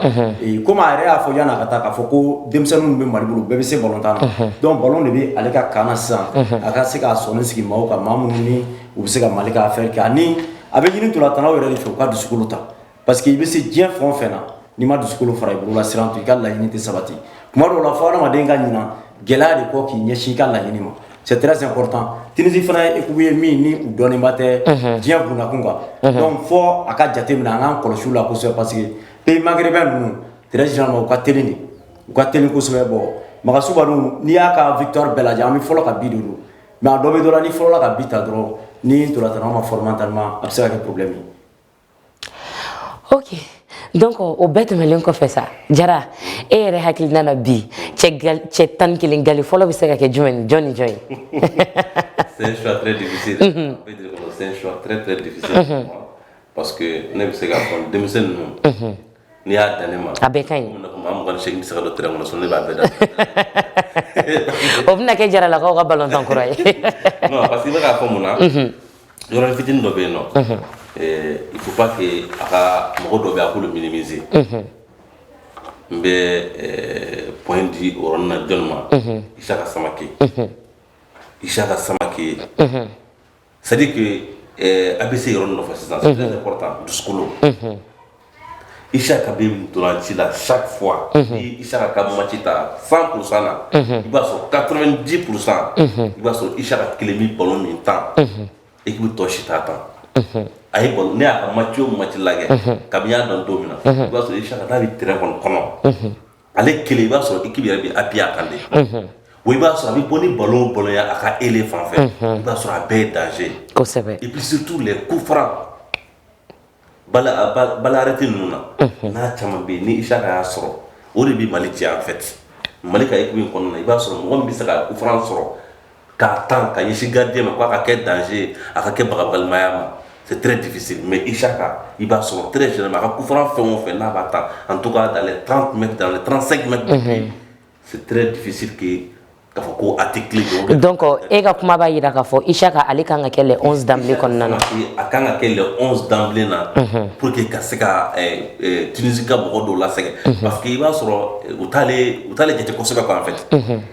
komi a yɛrɛ y'a fɔ yan ka taa k'a fɔ ko denmisɛnnin minnu bɛ Mali bolo bɛɛ bɛ se batan dɔn balo de bɛ ale ka kaana sisan a ka se k'a sɔn sigi ma ka ma minnu u bɛ se ka Mali ka fɛɛrɛ kɛ ani a bɛ ɲini ntolatannaw yɛrɛ de fɛ u ka dusukolo ta parce que i bɛ se diɲɛ fɛn o fɛn na n'i ma dusukolo fara i bolola siran to i ka laɲini tɛ sabati tuma dɔw la fo hadamaden ka ɲinan gɛlɛya de kɔ k'i ɲɛsin i ka laɲini ma c'est très important Tunisie fana ye équipe ye min ni u dɔnnenba tɛ unhun diɲɛ bundakun kan unhun donc fo a ka jateminɛ an k'an kɔlɔsi u la kosɛbɛ parce que pays maghrébin ninnu très généralement u ka teli de u ka teli kosɛbɛ bon Magasuba n'i y'a ka victoire bɛɛ lajɛ an bɛ fɔlɔ ka bi de don mais a dɔ bɛ dɔ la n'i fɔlɔla ka bi ta dɔrɔn ni ntolatannaw man fort mentalement a bɛ se ka kɛ problème ye ok donc o bɛɛ tɛmɛlen kɔfɛ sa Jara e yɛrɛ hakilina na bi cɛ tan ni kelen gale fɔlɔ bɛ se ka kɛ jumɛn ni jɔn ni jɔn ye parce que ne bɛ se ka fɔ denmisɛnnin ninnu N'i y'a da ne ma a bɛɛ ka ɲi maa se bɛ se ka don tɛrɛn kɔnɔ so ne b'a bɛɛ da o bɛna kɛ jaralakaw ka balontan kura ye parce que i b'a fɔ mun na yɔrɔ fitinin dɔ bɛ yen non il faut pas que a ka mɔgɔ dɔ bɛ a k'olu minimiser n bɛ point di yɔrɔ in na jɔn ma Isaka Samakɛ Isaka Samakɛ ye C'est à dire que a bɛ se yɔrɔ nɔfɛ sisan c'est très important dusukolo, unhun, Isiaka bɛ ntolanci la chaque fois unhun, n'i ye Isiaka ka match ta 100 pour 100 la unhun, i b'a sɔrɔ 90 pour 100 unhun, i b'a sɔrɔ Isiaka kelen bɛ ballon min tan, unhun, équipe tɔ si t'a tan, unhun, a ye ballon ne y'a ka match o match lajɛ, unhun, kabini n y'a dɔn don min na, unhun, i b'a sɔrɔ Isiaka n'a bɛ terrain kɔni kɔnɔ, unhun ale kelen i b'a sɔrɔ équipe yɛrɛ bɛ appuyer a kan de, unhun, wa i b'a sɔrɔ a bɛ bɔ ni ballon o ballon ye a ka ailier fan fɛ, unhun, i b'a sɔrɔ a bɛɛ ye danger ye, kosɛbɛ, et puis surtout les coups francs balle balle arrêtée ninnu na, unhun, n'a caman bɛ yen ni Isiaka y'a sɔrɔ o de bɛ Mali cɛn en fait Mali ka équipe kɔnɔna na i b'a sɔrɔ mɔgɔ min bɛ se ka coup franc sɔrɔ k'a tan ka ɲɛsin gardien ma ko a ka kɛ danger ye a ka kɛ bagabalimaya ma c'est très difficile mais Isaka i b'a sɔrɔ très généralement a ka coup franc fɛn o fɛn n'a b'a tan en tout cas dans les 30 mètres dans les 35 mètres de but c'est très difficile que k'a fɔ ko a tɛ kelen don donc e ka kuma b'a jira k'a fɔ Isaka ale kan ka kɛ le 11 d'emblée kɔnɔna na a kan ka kɛ le 11 d'emblée na pour que ka se ka Tunisie ka mɔgɔ dɔw lasɛgɛn parce que i b'a sɔrɔ u t'ale u t'ale jate kosɛbɛ quoi en fait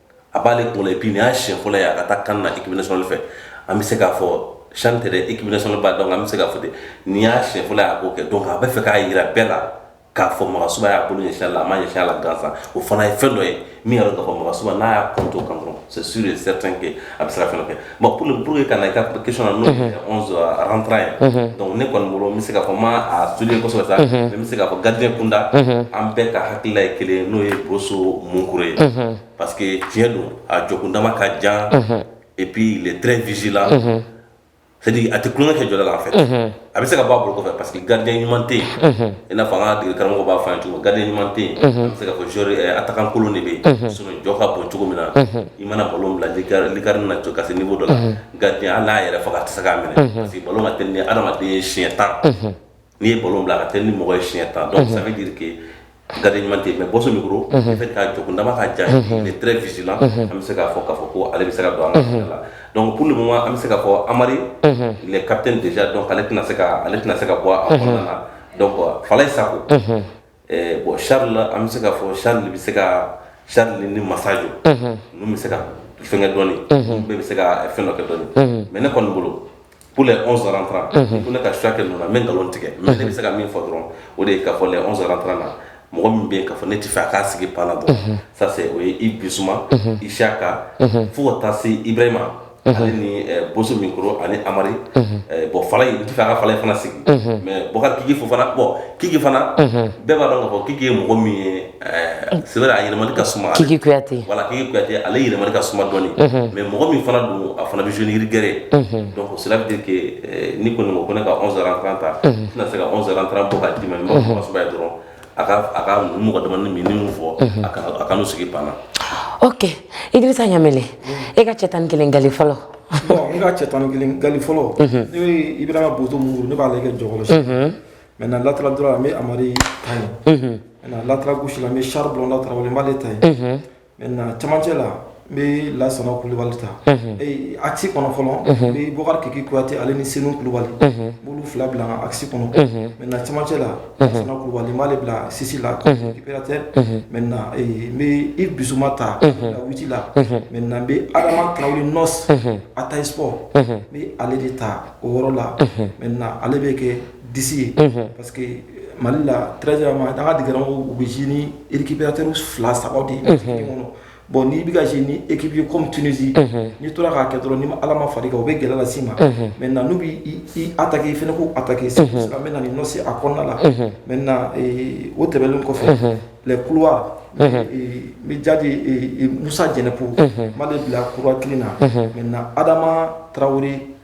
a b'ale tɔgɔ la et puis nin y'a siɲɛ fɔlɔ ye a ka taa CAN na équipe nationale fɛ an bɛ se k'a fɔ CHAN tɛ dɛ équipe nationale ba donc an bɛ se k'a fɔ ten nin y'a siɲɛ fɔlɔ ye a k'o kɛ donc a bɛ fɛ k'a jira bɛɛ la k'a fɔ Magasuba y'a bolo ɲɛsin a la a ma ɲɛsin a la gansan o fana ye fɛn dɔ ye min y'a dɔn k'a fɔ Magasuba n'a y'a compter o kan dɔrɔn c'est sûr et certain que a bɛ se ka fɛn dɔ kɛ bon pour le pour que ka na i ka question na n'o ye onze rentrant ye donc ne kɔni bolo n bɛ se k'a fɔ n ma a étudier kosɛbɛ sa mais n bɛ se k'a fɔ gardien kunda an bɛɛ ka hakilila ye kelen ye n'o ye Boso Munkoro ye parce que tiɲɛ don a jɔkundama ka jan et puis il est très vigilant c'est à dire a tɛ tulonkɛ kɛ jɔda la en fait a bɛ se ka bɔ a bolo kɔfɛ parce que gardien ɲuman tɛ yen i n'a fɔ an ka degelikaramɔgɔ b'a fɔ an ye cogo min gardien ɲuman tɛ yen an bɛ se k'a fɔ joueur attaquant kolon de bɛ yen sinon jɔ ka bon cogo min na i mana ballon bila lucarne na ka se niveau dɔ la gardien hali n'a yɛrɛ faga a tɛ se k'a minɛ parce que ballon ka teli ni hadamaden ye siɲɛ 10 n'i ye ballon bila a ka teli ni mɔgɔ ye siɲɛ 10 donc ça veut dire que Gardien ɲuman tɛ yen mais Bɔso Minkoro unhun le fait que a jɔkundama ka jan ye unhun il est très vigilant unhun an bɛ se k'a fɔ k'a fɔ ko ale bɛ se ka don an ka choix la donc pour le moment an bɛ se k'a fɔ Amari unhun il est capitaine déjà donc ale tɛna se kaa ale tɛna se ka bɔ a unhun a kɔnɔna na donc Falaye Sako unhun ɛɛ bon Charles an bɛ se k'a fɔ Charles de bɛ se kaa Charles ni Masajo unhun ninnu bɛ se ka fɛŋɛ dɔɔni unhun ninnu bɛ bɛ se ka fɛn dɔ kɛ dɔɔni unhun mais ne kɔni bolo Pour les 11 rentrants unhun ko ne ka choix kɛ ninnu na n bɛ nkalon tigɛ unhun mais ne bɛ se ka min fɔ dɔrɔn o de ye k'a fɔ les 11 rentrants na mɔgɔ min bɛ yen k'a fɔ ne tɛ fɛ a k'a sigi banc na dɔrɔn unhun ça c'est o ye Yves Bissouma unhun Isiaka unhun fo ka taa se Ibrahima unhun ale ni ɛɛ Bosso Minkoro ani Amari unhun ɛɛ bon Falaye n tɛ fɛ a ka Falaye fana sigi unhun mais Bukari Kiki Fofana bon Kiki fana unhun bɛɛ b'a dɔn k'a fɔ Kiki ye mɔgɔ min ye A yɛlɛmani ka suma kiki kuyate voilà kiki kuyate ale yɛlɛmani ka suma dɔɔni mais mɔgɔ min fana don a fana bɛ jouer ni rigueur ye donc cela veut dire que ne kɔni ko ne ka 11 rentrants n tɛna se ka 11 rentrants bɔ k'a di i ma mɔgɔsɛbɛya dɔrɔn a a ka mɔgɔ dama minnu fɔ a kan'u sigi banc na ok i bɛ sa ɲamina e ka cɛ tan ni kelen nkalonli fɔlɔ n ka cɛ tan ni kelen nkalonli fɔlɔ Ibrahima Boso Munkoro ne b'a kɛ jɔ kɔrɔ Maintenant latéral droit an bɛ amadu ta ye latéral gauche bɛ sari dɔn lata b'ale ta ye mɛ camancɛ la n bɛ lasana kulubali ta axe kɔnɔ fɔlɔ ni bukarijan kuyate ale ni senu kulubali olu fila bila axe kɔnɔ mɛ camancɛ la kulubali b'ale bila six la tɛ mɛ n i dusuba ta wu la mɛ n bɛ adama ta nɔ a ta sɔ n bɛ ale de ta o yɔrɔ la mɛ ale bɛ kɛ di ye parce que mali la tz ma da dra u bɛ z ni ekipyat fila saba de ye kɔnɔ bɔn n'i bɛ ka z ni ekipye com tsi n'i tora k'a kɛ dɔrɔn ni ala ma fa o bɛ gɛlɛla si ma mɛ na n'u bɛ a ta i fana ko a ta ke sa an bɛ na ɲɔ se a kɔnɔna la mɛ o tɛmɛnlen kɔfɛ kuwa bɛ jaabi musa jɛnɛku ma de bila kuwa kelen na mɛ na adama tarawele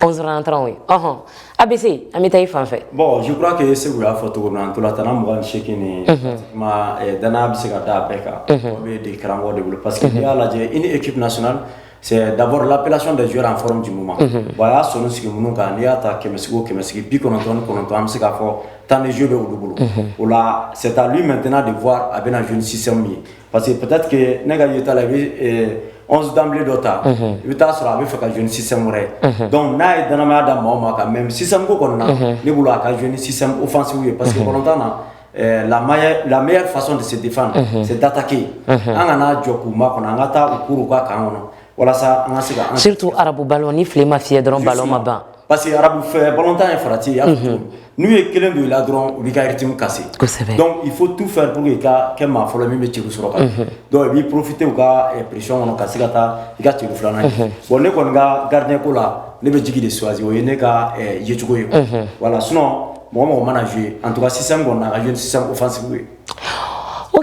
11 rentrants ye ɔhɔn abc an bɛ taa i fan fɛ. bon je crois que segu y'a fɔ cogo min na ntolatanna mugan ni seegin nin. pratiquement eh, danaya bɛ se ka da a bɛɛ kan. o bɛ degekaramɔgɔ de bolo parce que n'i y'a lajɛ une équipe nationale. c'est d'abord l'appellation des joueurs en forme du moment bon a y'a sɔnin sigi minnu kan n'i y'a ta kɛmɛsigi o kɛmɛsigi bi kɔnɔntɔn ni kɔnɔntɔn an bɛ se k'a fɔ temps de jeu bɛ olu bolo o la c'est à lui maintenant de voir a bɛna jouer ni système min ye Parce que peut-être que ne ka yeta la i bɛ euh, 11 d'emblée dɔ ta. Unhun. I bɛ taa sɔrɔ a bɛ fɛ ka jouer ni système wɛrɛ ye. Unhun. Donc n'a ye dannamaya da maa o maa kan mais système ko kɔni na. Unhun. Ne bolo a ka jouer ni système offensive ye. Parce que balontan na ɛɛ la meilleure la meilleure façon de se défendre. Unhun. c'est d'attaquer. Unhun. An kana jɔ k'u makɔnɔ an ka taa u kuru u ka camp kɔnɔ walasa an ka se ka an surtout arabu ballon ni file ma fiyɛ dɔrɔn ballon ma ban. Parce que arabu fɛ batan ye farati yan n'u ye kelen don i la dɔrɔn u bɛ ka yɛrɛtimu kasi i fo tu fɛ i ka kɛ maa fɔlɔ min bɛ ci sɔrɔ kan dɔnku i b'i porofite u ka psi kɔnɔ ka se ka taa i ka tile filanan bon ne kɔni ka garirde ko la ne bɛ jigin de suwasi o ye ne ka yecogo ye wala sun mɔgɔ mɔgɔ mana ye an tora sisan kɔnɔ a ye sisan ofasi ye o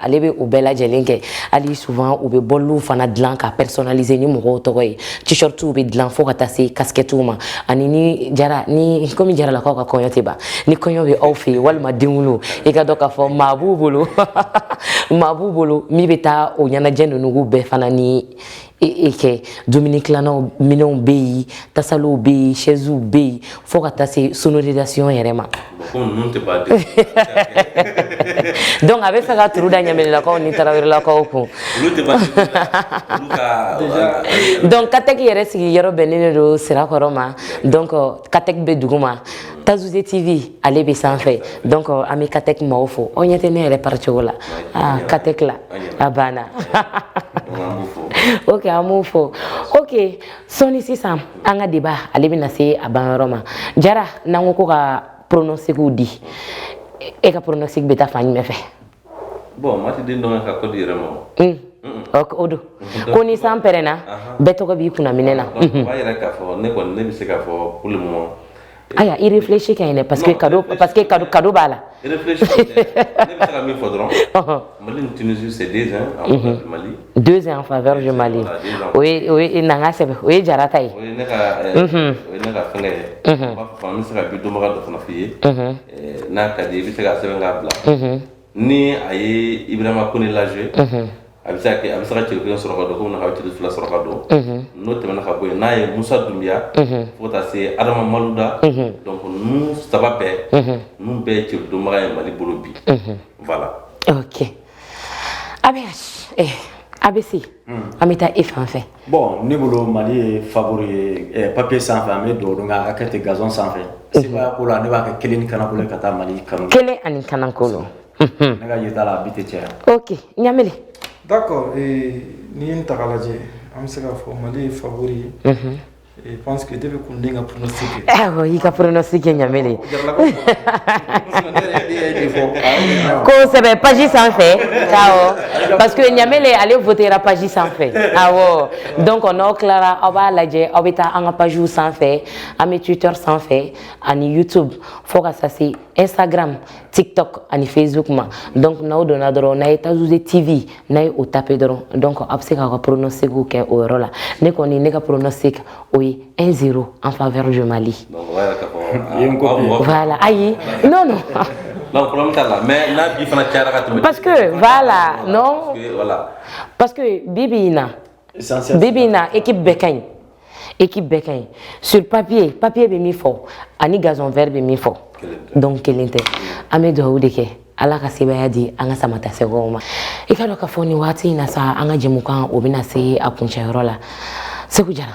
ale bɛ u bɛɛ lajɛlen kɛ hali souvent u bɛ bɔliw fana dilan ka personnaliser ni mɔgɔw tɔgɔ ye t-shirtw bɛ dilan fo ka taa se casquettew ma ani ni jara ni komi jaralakaw ka kɔɲɔ tɛ ban ni kɔɲɔ bɛ aw fɛ yen walima denwolo i ka dɔn k'a fɔ maa b'u bolo maa b'u bolo min bɛ taa o ɲɛnajɛ ninnu bɛɛ fana ni e, e kɛ dumuni tilannaw minɛnw bɛ yen tasaliw bɛ yen sɛziw bɛ yen fo ka taa se sonorisation yɛrɛ ma donc a bɛ fɛ ka turu da ɲaminɛlakaw ni tarawelelakaw kun donc katɛki yɛrɛ sigi yɔrɔ bɛnnen de don sirakɔrɔ ma donc katɛki bɛ duguma Tazoze TV ale bɛ sanfɛ donc an bɛ CATEC maaw fo aw ɲɛ tɛ ne yɛrɛ pari cogo la aa CATEC la a banna ok an b'u fo ok sɔɔni sisan an ka débat ale bɛna se a banyɔrɔ ma Jara n'an ko ko ka pronostic di e ka pronostic bɛ taa fan jumɛn fɛ. bon maa tɛ den dɔn ka kɔ di yɛrɛ ma o don ko ni san pɛrɛnna bɛɛ tɔgɔ b'i kunna minɛ na b'a yɛrɛ k'a fɔ ne kɔni ne bɛ se k'a fɔ poli mɔ ayiwa i réfléchi ka ɲini paseke ka parce que ka kado b'a la ne bɛ se ka min fɔ dɔrɔn mali tunisi de mali deux un en faveur du Mali o ye o ye an k'a sɛbɛn o ye Jara ta ye o ye ne ka o ye ne ka fɛnkɛ ye n b'a fɔ n bɛ se ka bi donbaga dɔ fana f'i ye n'a ka di i bɛ se k'a sɛbɛn k'a bila ni a ye Ibrahima Kone lajɛ a bɛ se ka kɛ a bɛ se ka celu kelen sɔrɔ ka don komi a bɛ celu fila sɔrɔ ka don n'o tɛmɛna ka bɔ yen n'a ye Musa Dunbiya fo ka taa se Adama Maluda donc ninnu saba bɛɛ ninnu bɛɛ ye celu donbaga ye Mali bolo bi voilà ok a bɛ eh, ABC hmm. an bɛ taa e fan fɛ bon ne bolo Mali ye favori ye eh, papier sanfɛ an bɛ dugawu don k'a ka kɛ ten gazon sanfɛ mhm. sebaaya ko la ne b'a kɛ kelen ni kanankolon ka taa Mali kanu kelen ani kanankolon mhm. ne ka yeta la a bi tɛ caya ok Ɲamele d'accord eh, n'i y'a ta k'a lajɛ an bɛ se k'a fɔ Mali ye favori ye mhm. Eh, eh, y'i ka pronostic kɛ Ɲamele k'o sɛbɛn paji sanfɛ parce que Ɲamele ale votera paji sanfɛ donc aw n'aw tilara aw b'a lajɛ aw bɛ taa an ka pajiw sanfɛ an bɛ twitter sanfɛ ani youtube fo ka Instagram, TikTok ani Facebook ma donc n'aw donna dɔrɔn n'a ye Tazouze TV n'aw ye o tape dɔrɔn donc aw bɛ se k'aw ka pronostic kɛ o yɔrɔ la ne kɔni ne ka pronostic o ye 1-0 en faveur du Mali. Voilà ayi non non. Non, problème t'a la mais n'a bi fana cayara ka tɛmɛ. Parce que voilà non. Parce que voilà. Parce que bi bi in na. Bi bi in na équipe bɛɛ ka ɲi équipe bɛɛ ka ɲi sur papier papier bɛ min fɔ ani gazon vert bɛ min fɔ donc kelen tɛ an bɛ dugawu de kɛ ala ka sebaaya di an ka samatasɛgɛw ma i k'a dɔn k'a fɔ nin waati in na sa an ka jɛmukan o bɛna se a kuncɛyɔrɔ la Seku Jara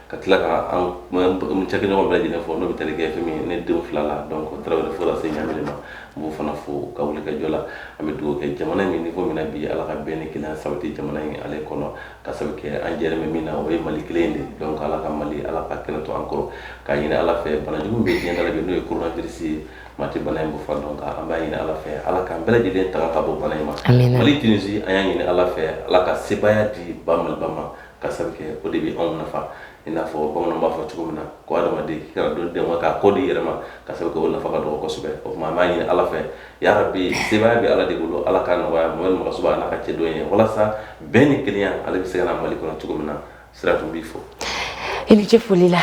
ka tila ka an cakɛɲɔgɔn bɛɛ lajɛlen fo n'o bɛ tali kɛ fɛn min ne denw fila la donc tarawele fo lase Ɲamele ma n b'o fana fo ka wuli ka jɔ la an bɛ dugawu kɛ jamana min niko min na bi ala ka bɛn ni kelenya sabati jamana in ale kɔnɔ ka sabu kɛ an jɛlen bɛ min na o ye mali kelen de donc ala ka mali ala ka kɛnɛ to an kɔrɔ k'a ɲini ala fɛ banajugu bɛ diɲɛ dala bi n'o ye coronavirus ye maa tɛ bana in bɔfan dɔn kan an b'a ɲini ala fɛ ala k'an bɛɛ lajɛlen tanga ka bɔ bana in ma mali tunisi an y'a ɲini ala fɛ ala ka sebaya di ba maliba ma ka sabu kɛ o de bɛ anw nafa i n'a fɔ bamananw b'a fɔ cogo min na ko adamaden k'i kana don dɛn k'a kɔ di i yɛrɛ ma ka sabu kɛ o nafa ka dɔgɔ kosɛbɛ o tuma an b'a ɲini ala fɛ yarabi sebaaya bɛ ala de bolo ala ka nɔgɔya mɔgɔ mɔgɔ suba ala ka cɛ dɔ ye walasa bɛn ni kelenya ale bɛ se ka na mali kɔnɔ cogo min na sirantu n b'i fo i ni ce foli la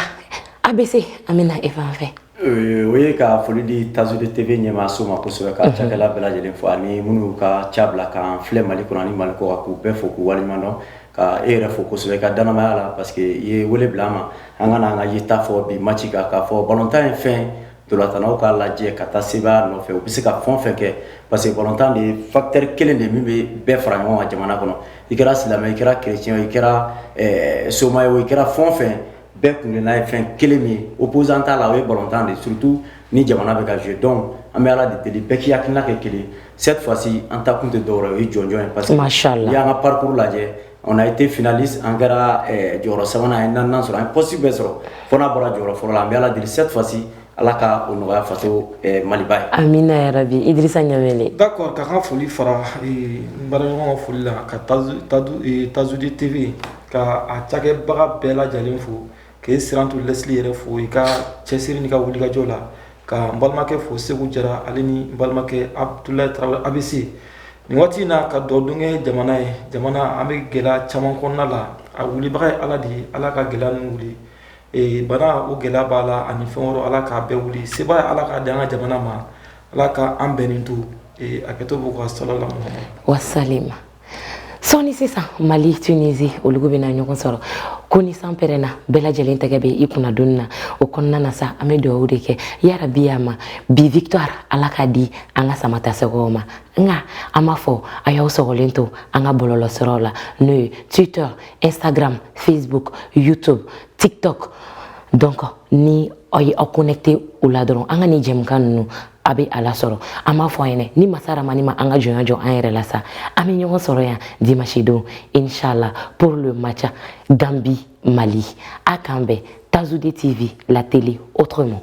a bɛ se an bɛ na e fan fɛ Euh, o ye ka foli di Tazoude TV ɲɛmaaso ma kosɛbɛ ka cakɛla bɛɛ lajɛlen fo ani minnu ka ca bila k'an filɛ mali kɔnɔ ani mali kɔ k'u bɛɛ fo k'u waleɲuman dɔn ka e yɛrɛ fo kosɛbɛ ka danamaya la parce que i ye wele bila an ma an ka na an ka yeta fɔ bi match kan k'a fɔ balontan ye fɛn ntolatannaw k'a lajɛ ka taa sebaya nɔfɛ u bɛ se ka fɛn fɛn kɛ parce que balontan de ye facteur kelen de min bɛ bɛɛ fara ɲɔgɔn kan jamana kɔnɔ i kɛra silamɛ i kɛra chrétien i kɛra eh, soma ye o i kɛra fɛn fɛn bɛɛ kun ye n'a ye fɛn kelen min ye opposant t'a la o ye balontan de ye surtout ni jamana bɛ ka jouer donc an bɛ ala de deli bɛɛ k'i hakilina kɛ kelen cette fois ci an taakun tɛ dɔwɛrɛ o ye jɔnjɔn ye parce que n'i y'an ka parcours lajɛ on a été finaliste an kɛra eh, jɔyɔrɔ sabanan ye naaninan sɔrɔ an ye poste bɛɛ sɔrɔ fo n'a bɔra jɔyɔrɔ fɔlɔ la an bɛ ala deli cette fois ci ala ka o nɔgɔya faso eh, maliba ye amina yarabi idrissa ɲamɛle d'accord ka n ka foli fara eh, n baaraɲɔgɔn ka foli la ka Tazoude TV ka a cakɛbaga bɛɛ lajɛlen fo k'i sirantu lɛsili yɛrɛ fo i ka cɛsiri n'i ka wulikajɔ la ka n balimakɛ fo seku jara ale ni n balimakɛ abdulayi tarawele abc nin waati in na ka dubadon kɛ jamana ye jamana an bɛ gɛlɛya caman kɔnɔna na a wulibaga ye ala de ye ala ka gɛlɛya ninnu wuli ee bana o gɛlɛya b'a la ani fɛn wɛrɛ ala k'a bɛɛ wuli sebaaya ala k'a di an ka jamana ma ala ka an bɛnnen to ee a kɛtɔ b'u ka sɔlɔ la muhammadu wa salima sɔɔni sisan mali tunisi olu bɛna ɲɔgɔn sɔrɔ ko ni san pɛrɛnna bɛɛ lajɛlen tɛgɛ bɛ i kun na donni na o kɔnɔna na sa an bɛ dugawu de kɛ yarabi y'a ma bi victoire ala k'a di an ka samatasɛgɛw ma nka an b'a fɔ a y'aw sɔgɔlen to an ka bɔlɔlɔsiraw la n'o ye twitter instagram facebook youtube tiktok donc ni aw ye aw connecté o la dɔrɔn an ka nin jɛmukan ninnu a bɛ aw lasɔrɔ an b'a fɔ aw ɲɛna ni masa rahamani ma an ka jɔnya jɔ an yɛrɛ la sa an bɛ ɲɔgɔn sɔrɔ yan dimanche don inshallah pour le match Gambie Mali an k'an bɛn Tazoude TV la télé autrement